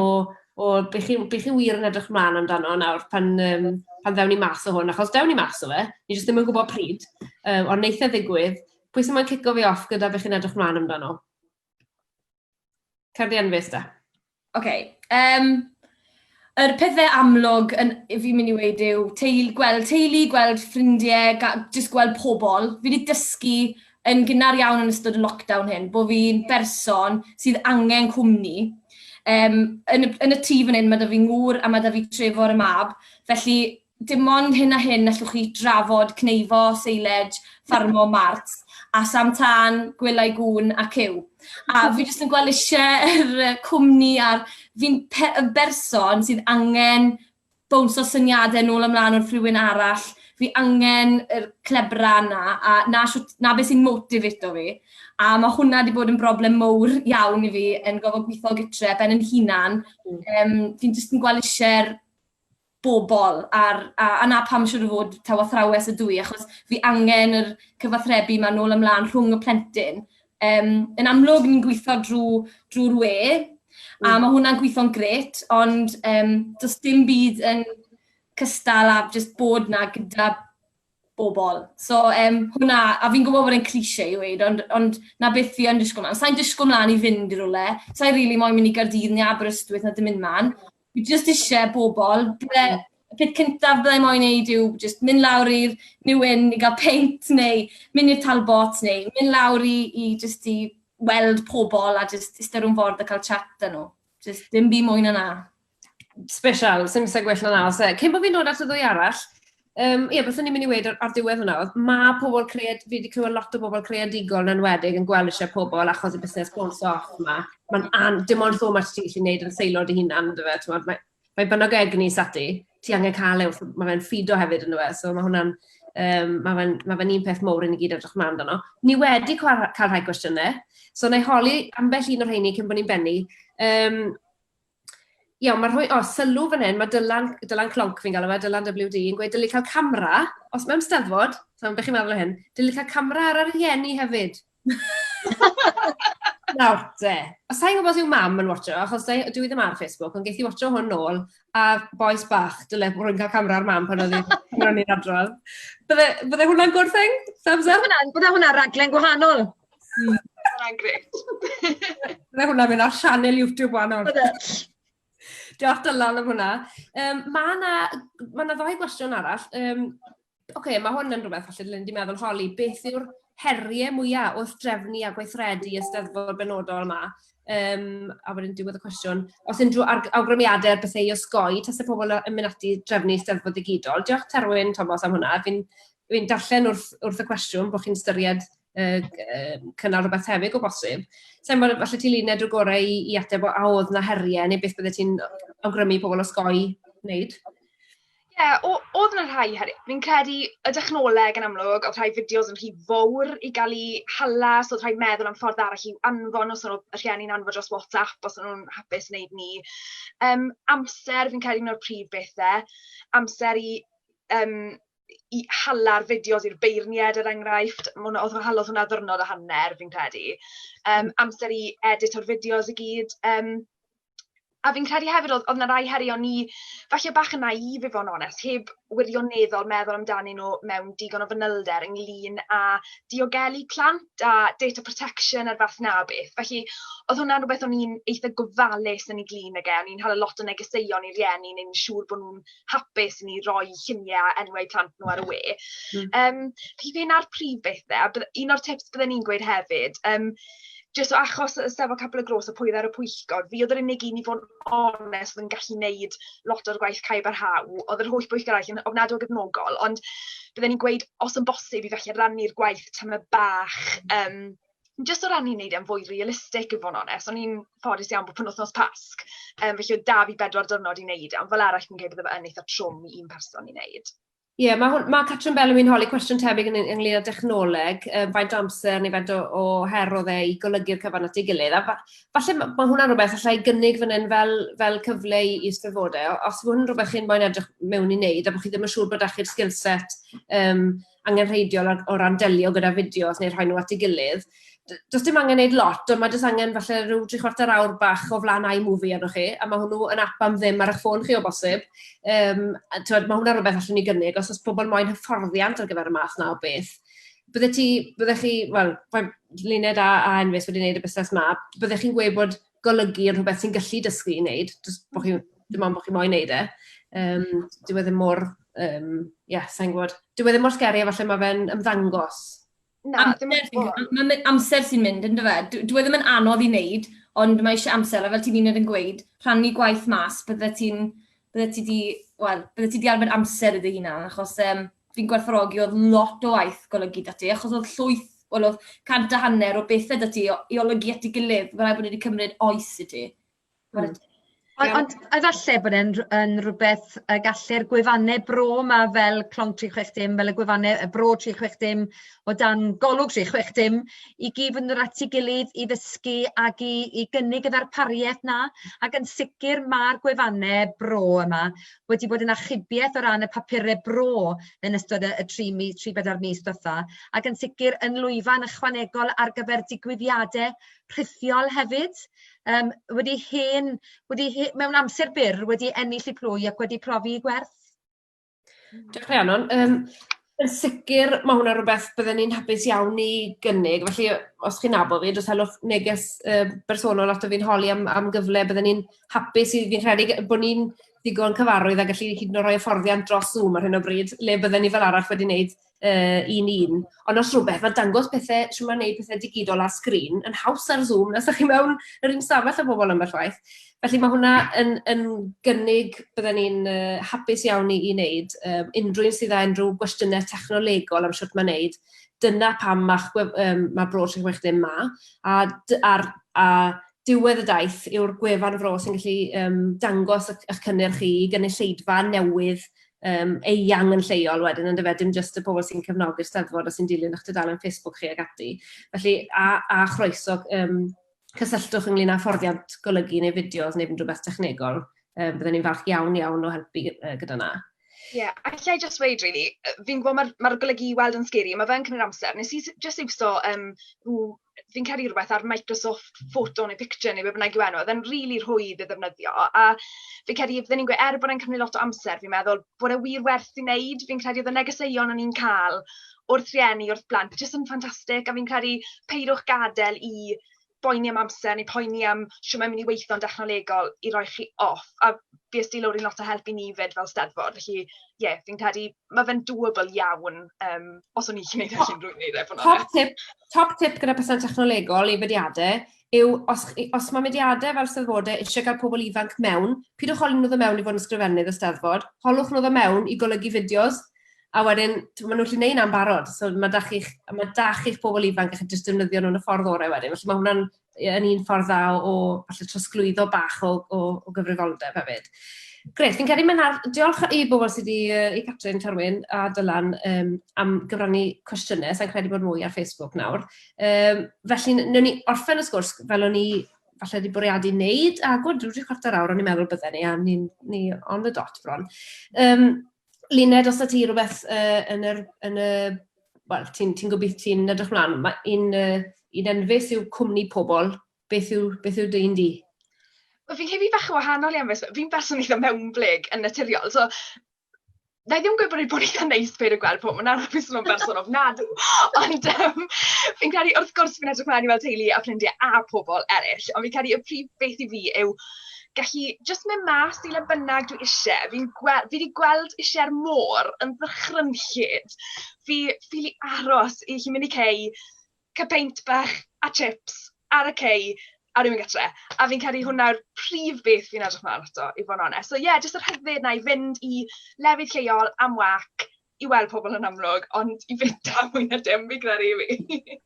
o be chi be chi wir yn edrych mlaen amdano nawr pan yym pan ddewn ni mas o hwn, achos dewn ni mas o fe, ni jyst ddim yn gwbod pryd, yym ond neith e ddigwydd. Pwy sy moyn cico fi off gyda be chi'n edrych mlaen amdano? Cerddi anfus da. OK. Um, yr pethau amlwg yn, fi'n mynd i wedi yw teil, gweld teulu, gweld ffrindiau, jyst gweld pobl. Fi wedi dysgu yn gynnar iawn yn ystod y lockdown hyn, bod fi'n berson sydd angen cwmni. Um, yn, y, yn y tŷ fan hyn, mae da fi ngŵr a mae da fi trefo ar y mab, felly dim ond hyn a hyn allwch chi drafod cneifo, seiled, ffarmo, mart, a sam tân, gwelai gŵn a cyw. A fi jyst yn gweld eisiau yr cwmni a'r fi'n yn berson sydd angen bwns o syniadau nôl ymlaen wrth rhywun arall. Fi angen yr clebra yna, a na, shwt, na beth sy'n motivato fi. A mae hwnna wedi bod yn broblem mowr iawn i fi yn gofod gweithio gytre, ben yn hunan. Um, fi'n jyst yn gweld eisiau'r bobl a'r a a 'na pam siŵr o fod taw athrawes ydw i achos fi angen yr cyfathrebu 'ma nôl a mlan rhwng y plentyn. Yym, yn amlwg ni'n gwitho drw drw'r we, a hmm. ma' hwnna'n gwitho'n grêt, ond yym do's dim byd yn cystal â jyst bod 'na gyda bobl. So yym hwnna... a fi'n gwybod bod e'n cliché i weud, ond ond 'na beth fi yn disgwyl mlaen. Sa i'n disgwyl mlaen i fynd i rywle. Sa i rili moyn mynd i Gaerdydd neu Aberystwyth na dim un man. Fi jyst isie bobl. Bydde... y peth cyntaf bydda i moyn wneud yw jyst mynd lawr i'r New Inn i gael peint neu mynd i'r Talbots neu mynd lawr i i jyst i weld pobl a jyst iste rownd ford a cael chat 'da nhw. Jyst dim byd mwy na 'na. Special, sy'n sy'n gwell na os. Cyn bod fi'n dod at y ddwy arall, um, ie, beth o'n i'n mynd i wedi ar, ar diwedd hwnna, oedd mae pobl cread, fi wedi clywed lot o bobl creadigol yn enwedig yn gweld eisiau pobl achos y busnes bounce off yma. Mae'n an, dim ond fo mae ti gallu gwneud yn seilod i hunan, dy fe, ti'n mae, mae bynog egni sati, ti angen cael ei wrth, mae fe'n ffido hefyd yn dweud, fe, so mae hwnna'n, um, mae fe'n ma fe un peth mowr i ni gyd edrych mlaen dano. Ni wedi cael, cael rhai gwestiynau, so na i holi ambell un o'r rheini cyn bod ni'n bennu. Um, Iawn, mae rhoi... o, sylw fan hyn, mae Dylan, Dylan Clonc fi'n galw fe, Dylan WD, yn gweud dylid cael camera, os mewn steddfod, so beth chi'n meddwl o hyn, dylid cael camera ar y rhieni hefyd. Nawr te, a sa i'n gwybod os yw mam yn watcho, achos dwi dwi ddim ar Facebook, ond ges i watcho hwn nôl, a bois bach, dyle rwy'n cael camera ar mam pan oedd i'n pan o'n i'n adrodd. Bydde, bydde hwnna'n gwrtheng? Thumbs up? Bydde hwnna, bydde hwnna raglen gwahanol. Mm. Mae'n gret. Mae hwnna mynd ar sianel YouTube wahanol. Diolch Dylan am hwnna. Um, mae yna ma ddoi gwestiwn arall. Um, Oce, okay, mae hwn yn rhywbeth falle dylwn wedi meddwl holi. Beth yw'r heriau mwyaf wrth drefnu a gweithredu y steddfod benodol yma? Um, a wedyn diwedd y cwestiwn. Os unrhyw awgrymiadau ar bethau i osgoi, tas y pobl yn mynd ati drefnu steddfod digidol. Diolch Terwyn Thomas am hwnna. Fi'n fi darllen wrth, wrth y cwestiwn bod chi'n styried uh, cynnal rhywbeth tebyg o bosib. Sa'n bod, falle ti luned o gorau i, i ateb o a oedd na heriau neu beth bydde ti'n awgrymu pobl osgoi wneud? Ie, yeah, oedd yna rhai heriau. Fi'n credu y dechnoleg yn amlwg, oedd rhai fideos yn rhy fawr i gael ei hala, so oedd rhai meddwl am ffordd arall i'w anfon, os oedd y rhieni'n anfon dros WhatsApp, os oedd nhw'n hapus wneud ni. Um, amser, fi'n credu un o'r prif bethau, amser i um, i hala'r fideos i'r beirniaid, er enghraifft. Ma' hwnna... oedd hwnna... oedd hwnna ddiwrnod a hanner, fi'n credu. Yym, amser i edito'r fideos i gyd. Yym, a fi'n credu hefyd oedd oedd 'na rai heriau o'n i falle bach yn naïve i fod yn onest, heb wirioneddol meddwl amdanyn nhw mewn digon o fanylder ynglyn â diogelu plant a data protection a'r fath 'na o beth. Felly, oedd hwnna'n rywbeth o'n i'n eitha gofalus ynglyn ag e, o'n i'n hala lot o negeseuon i rieni i wneud yn siŵr bod nhw'n hapus i ni roi lluniau a enwau plant nhw ar y we. Yym, felly fe 'na'r prif bethe, a bydde... un o'r tips bydden i'n gweud hefyd, yym, jyst o achos y Steddfod Capel y Gros a pwy oedd ar y pwyllgor, fi oedd yr unig un i fod yn onest oedd yn gallu wneud lot o'r gwaith cae barhau, oedd yr holl bwyllgor arall yn ofnadw o gefnogol, ond bydden i'n gweud os yn bosib i falle rannu'r gwaith tamed bach yym... jyst o ran i wneud e'n fwy realistig i fod yn onest, o'n i'n ffodus iawn bod penwythnos Pasg, um, felly oedd da fi bedwar diwrnod i wneud e, ond fel arall fi'n credu bod fe yn eitha trwm i un person i wneud. Ie, yeah, mae, ma Catrin Bellamy yn holi cwestiwn tebyg yn ynglyn â dechnoleg, um, faint o amser neu faint o, o her o dde i golygu'r cyfan at ei gilydd. A fa, falle mae ma hwnna'n rhywbeth allai gynnig fan hyn fel, fel cyfle i eisteddfodau. Os mae hwnna'n rhywbeth chi'n moyn edrych mewn i wneud a bod chi ddim yn siŵr bod eich sgilset um, angenrheidiol o o ran delio gyda fideos neu rhoi nhw at ei gilydd. D- does dim angen wneud lot, ond mae jyst angen falle rhyw dri chwarter awr bach o flaen iMovie arnoch chi, a mae hwnnw yn ap am ddim ar eich ffôn chi o bosib. Um, a, tywed, mae hwnna rhywbeth allwn ni gynnig, os oes pobl moyn hyfforddiant ar gyfer y math na o beth. Byddech chi, byddech chi, wel, Luned a, a Enfys wedi gwneud y busnes ma, byddech chi'n gweud bod golygu yn rhywbeth sy'n gallu dysgu i wneud, jyst bod chi'n... dim ond bod chi moyn wneud e. Um, dyw e ddim mor, um, ie, yeah, sa'n gwybod. Dyw e ddim mor sgeri, efallai mae fe'n ymddangos. Na, dim ond bod. Mae amser sy'n mynd, yn dyfa. E? Dyw e ddim yn anodd i wneud, ond mae eisiau amser, a fel ti'n un yn gweud, rhannu gwaith mas, bydde ti'n bydde ti di, wel, bydde ti di arfer amser i dy hunan, achos um, fi'n gwerthorogi oedd lot o waith golygu da ti, achos oedd llwyth, wel, oedd cant a hanner o bethau da ti i olygu at ei gilydd, mae'n rhaid bod wedi cymryd oes i ti. Mm. Ond, ond efallai bod e'n yn rhywbeth y gallu'r gwefannau bro yma fel Clon 360, fel y gwefannau y bro 360, o dan golwg 'lly chwech dim i gyd fynd yr at ei gilydd i ddysgu ac i i gynnig y ddarpariaeth 'na ac yn sicr ma'r gwefanne bro yma wedi bod yn achubiaeth o ran y papure bro yn ystod y y tri mi- tri bedair mis dwetha ac yn sicr yn lwyfan ychwanegol ar gyfer digwyddiade rhithiol hefyd yym wedi hen wedi he- mewn amser byr wedi ennill 'u plwy ac wedi profi 'u gwerth. Diolch Rhiannon. Um, yn sicr, mae hwnna rhywbeth byddwn ni'n hapus iawn i gynnig. Felly, os chi'n nabod fi, dwi'n helwch neges uh, bersonol ato fi'n holi am, am gyfle. Byddwn ni'n hapus i fi'n rhedeg bod ni'n ddigon cyfarwydd a gallu hyd yn oed rhoi hyfforddiant dros Zoom ar hyn o bryd, le byddwn ni fel arall wedi wneud uh, un un. Ond os rhywbeth, mae dangos pethau, sy'n mae'n neud pethau digidol ar sgrin, yn haws ar Zoom, nes ydych chi mewn yr un stafell â bobl ambell waith. Felly mae hwnna yn, yn gynnig, byddwn ni'n uh, hapus iawn i, i wneud, um, unrhyw un sydd â unrhyw gwestiynau technolegol am siwt mae'n neud, dyna pam mae'ch um, mae bro 360 ma, a, a, a diwedd y daith yw'r gwefan fro sy'n gallu um, dangos eich cynnyrch chi i gynulleidfa newydd yym eang yn lleol wedyn yndyfe dim jyst y pobl sy'n cefnogi'r Steddfod a sy'n dilyn eich tudalen Facebook chi ac ati. Felly a a chroeso yym cysylltwch ynglyn â fforddiant golygu neu fideos neu unrhyw beth technegol. Yym bydden ni'n falch iawn iawn o helpu yy gyda 'na. Ie, yeah, a allai jyst weud rili, fi'n gwybod mae'r mae'r golygu i weld yn scary, mae fe'n cymryd amser. Nes i jyst iwso yym rhyw fi'n cael ei rhywbeth ar Microsoft Photo neu Picture neu beth bynnag yw enw, oedd e'n rili really rhwydd i ddefnyddio. A fi'n credu, fydden ni'n gweud, er bod e'n cymryd lot o amser, fi'n meddwl bod e wir werth i wneud. Fi'n credu oedd y negeseuon o'n i'n cael wrth rieni, wrth blant, jyst yn ffantastig. A fi'n credu, peidwch gadael i boeni am amser neu poeni am siwm mae'n mynd i weithio'n dechnolegol i roi chi off. A fi ysdi lawr i lot o help i ni fyd fel steddfod. Felly, ie, yeah, fi'n credu mae fe'n doable iawn, um, os o'n i'n gallu gwneud e'n rwy'n gwneud efo'n Top tip, top tip gyda person technolegol i fediadau yw, os, os mae mediadau fel steddfodau eisiau cael pobl ifanc mewn, pidwch holi nhw ddod mewn i fod yn sgrifennydd y steddfod, holwch nhw ddod mewn i golygu fideos, a wedyn, maen nhw'n gallu neud am barod, so mae da chi'ch ma da chi pobl ifanc eich jyst defnyddio nhw'n y ffordd orau wedyn, felly mae hwnna'n yn un ffordd dda o falle trosglwyddo bach o, o, o gyfrifoldeb hefyd. Gret, fi'n credu mae'n ar... Diolch i bobl sydd wedi, uh, i Catrin Carwyn a Dylan um, am gyfrannu cwestiynau, sa'n credu bod mwy ar Facebook nawr. Um, felly, newn ni orffen y sgwrs fel o'n ni falle wedi bwriadu wneud, a gwrdd drwy chwarter awr o'n i'n meddwl bydden ni, a ni'n ni on the dot bron. Um, Luned, os 'da ti rywbeth yy yn yr yn y... wel, ti'n ti'n gobith- ti'n edrych mlaen, ma' un yy un enfys yw cwmni pobl, beth yw beth yw dy un di? Wel fi'n credu fi bach yn wahanol i Enfys, fi'n berson eitha mewnblyg yn naturiol, so na i ddim yn gweud bod e'n bod eitha neis peidio gweld pobl, na fi'n swnio'n berson ofnadw, ond yym fi'n credu wrth gwrs fi'n edrych mlaen i weld teulu a ffrindiau a pobl eryll, ond fi'n credu y prif beth i fi yw gallu jyst mynd mas i le bynnag dwi ishe. Fi'n gwe- fi 'di gweld ishe'r môr yn fy chryllid. Fi ffili aros i allu mynd i cei, cael peint bach a chips ar y cei a wedyn mynd gatre. A fi'n credu hwnna'r prif beth fi'n edrych mlaen ato i fod yn onest. So ie, jyst y rhyddid 'na i fynd i lefydd lleol am wâc. i weld pobl yn amlwg, ond i fynd da mwy na dim, fi gyda'r ei fi.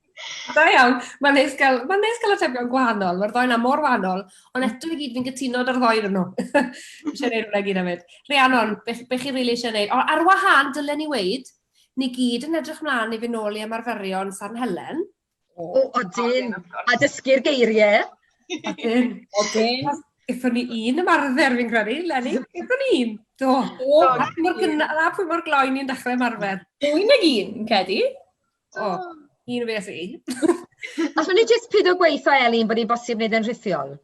Da iawn, mae'n neis gael, mae neis gael atebion gwahanol, mae'r ddoen am mor wahanol, ond mm. eto i gyd fi'n gytuno da'r ddoen nhw. Eisiau gwneud hwnna gyd am fyd. Rhiannon, beth, be chi'n rili eisiau gwneud? O, ar wahan, dylen ni weid, ni gyd yn edrych mlaen i fy nôl i ymarferion San Helen. O, odyn, a dysgu'r geiriau. Odyn, odyn. Gyffon ni un ymarfer fi'n credu, Lenny. Gyffon ni un. Do. O, a pwy mor gynna, a pwy mor gloi ni'n dechrau ymarfer. Dwy nag un, yn credu. O, un fe i. Allwn ni jyst pido gweithio, Elin, bod ni'n bosib wneud yn rhithiol?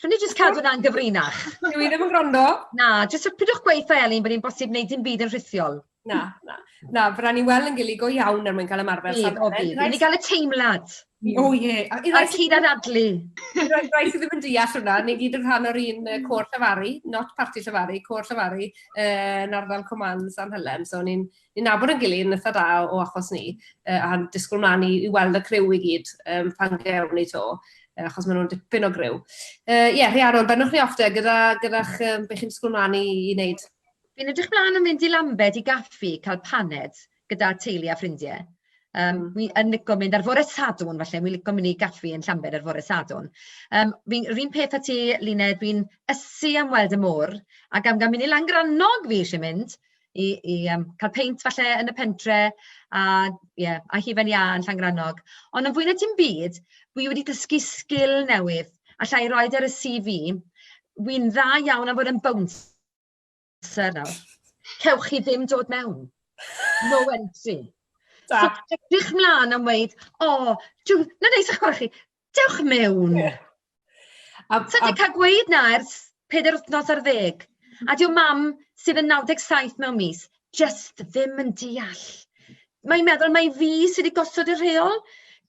Allwn ni jyst cadw 'na'n gyfrinach? Dw i ddim yn gwrando. Na, jyst y- peidiwch gweud wrtha Elin bod hi'n bosib wneud dim byd yn rhithiol. Na, na, na, fe rai' ni weld yn gili go iawn er mwyn cael ymarfer Bydd, o safle. bydd. Rhaid Ni gael y teimlad O ie. A i rai a'r sy cyd-anadlu. i rai rai sy ddim yn deall hwnna, ni gyd yn rhan o'r un yy côr llefaru, not parti llefaru, côr llefaru yy yn ardal Coman San Helen, so ni'n Ni'n nabod ein gilydd yn eitha da o achos ni, yy a'n disgwyl mlaen i i weld y criw i gyd yym pan gewn ni to, yy achos maen nhw'n dipyn o griw. Yy ie, Rhiannon, bennwch ni off de gyda gyda'ch yym be chi'n disgwyl mlaen i i wneud. Fi'n edrych mlaen yn mynd i Lambed i gaffi, cael paned gyda teulu a ffrindie. Yym wi yn lico mynd ar fore Sadwrn falle, wi'n lico mynd i gaffi yn Llambed ar fore Sadwrn. Yym fi'n yr un peth â ti Luned, fi'n ysu am weld y môr, ac am ga'l mynd i Langrannog fi isie mynd, i i yym cael peint falle yn y pentre, a ie a hufen iâ yn Llangrannog. Ond yn fwy na dim byd, wi wedi dysgu sgil newydd, alla i roid e ar y CV, wi'n dda iawn am fod yn bouncer nawr, cewch chi ddim dod mewn, no entry. So edrych mlan am weud, o, jiw, 'na neis 'ych gwel' chi. Dewch mewn! Ie. A a... Sa ti 'di ca'l gweud 'na ers peder wthnos ar ddeg, a 'di o'm mam sydd yn 97 mewn mis jyst ddim yn deall. Mae'n meddwl mai fi sy 'di gosod y rheol.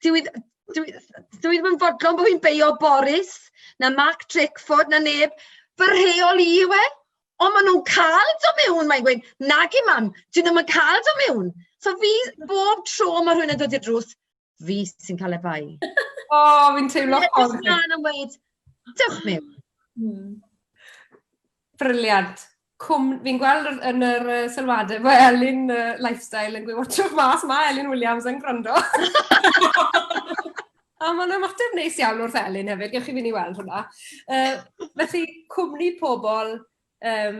Dyw 'i ddy- dyw 'i ddy- dyw 'i ddim yn fodlon bo' fi'n beio Boris na Mark Drakeford na neb, fy rheol i yw e. Ond ma' nw'n ca'l do' mewn, mae'n gweud, nage mam, 'dyn nw'm yn ca'l do' mewn. So fi, bob tro ma' rhywun yn dod i'r drws, fi sy'n cael efau. o, oh, fi'n teimlo ffordd. Dwi'n edrych mlaen yn weid, dewch mi. Hmm. Briliant. Cwm, fi'n gweld yn yr uh, sylwadau bod Elin uh, Lifestyle yn gweud watch of mas, mae Elin Williams yn gwrando. A mae'n ymateb neis iawn wrth Elin hefyd, gewch chi fynd i weld hwnna. Uh, felly, cwmni pobl um,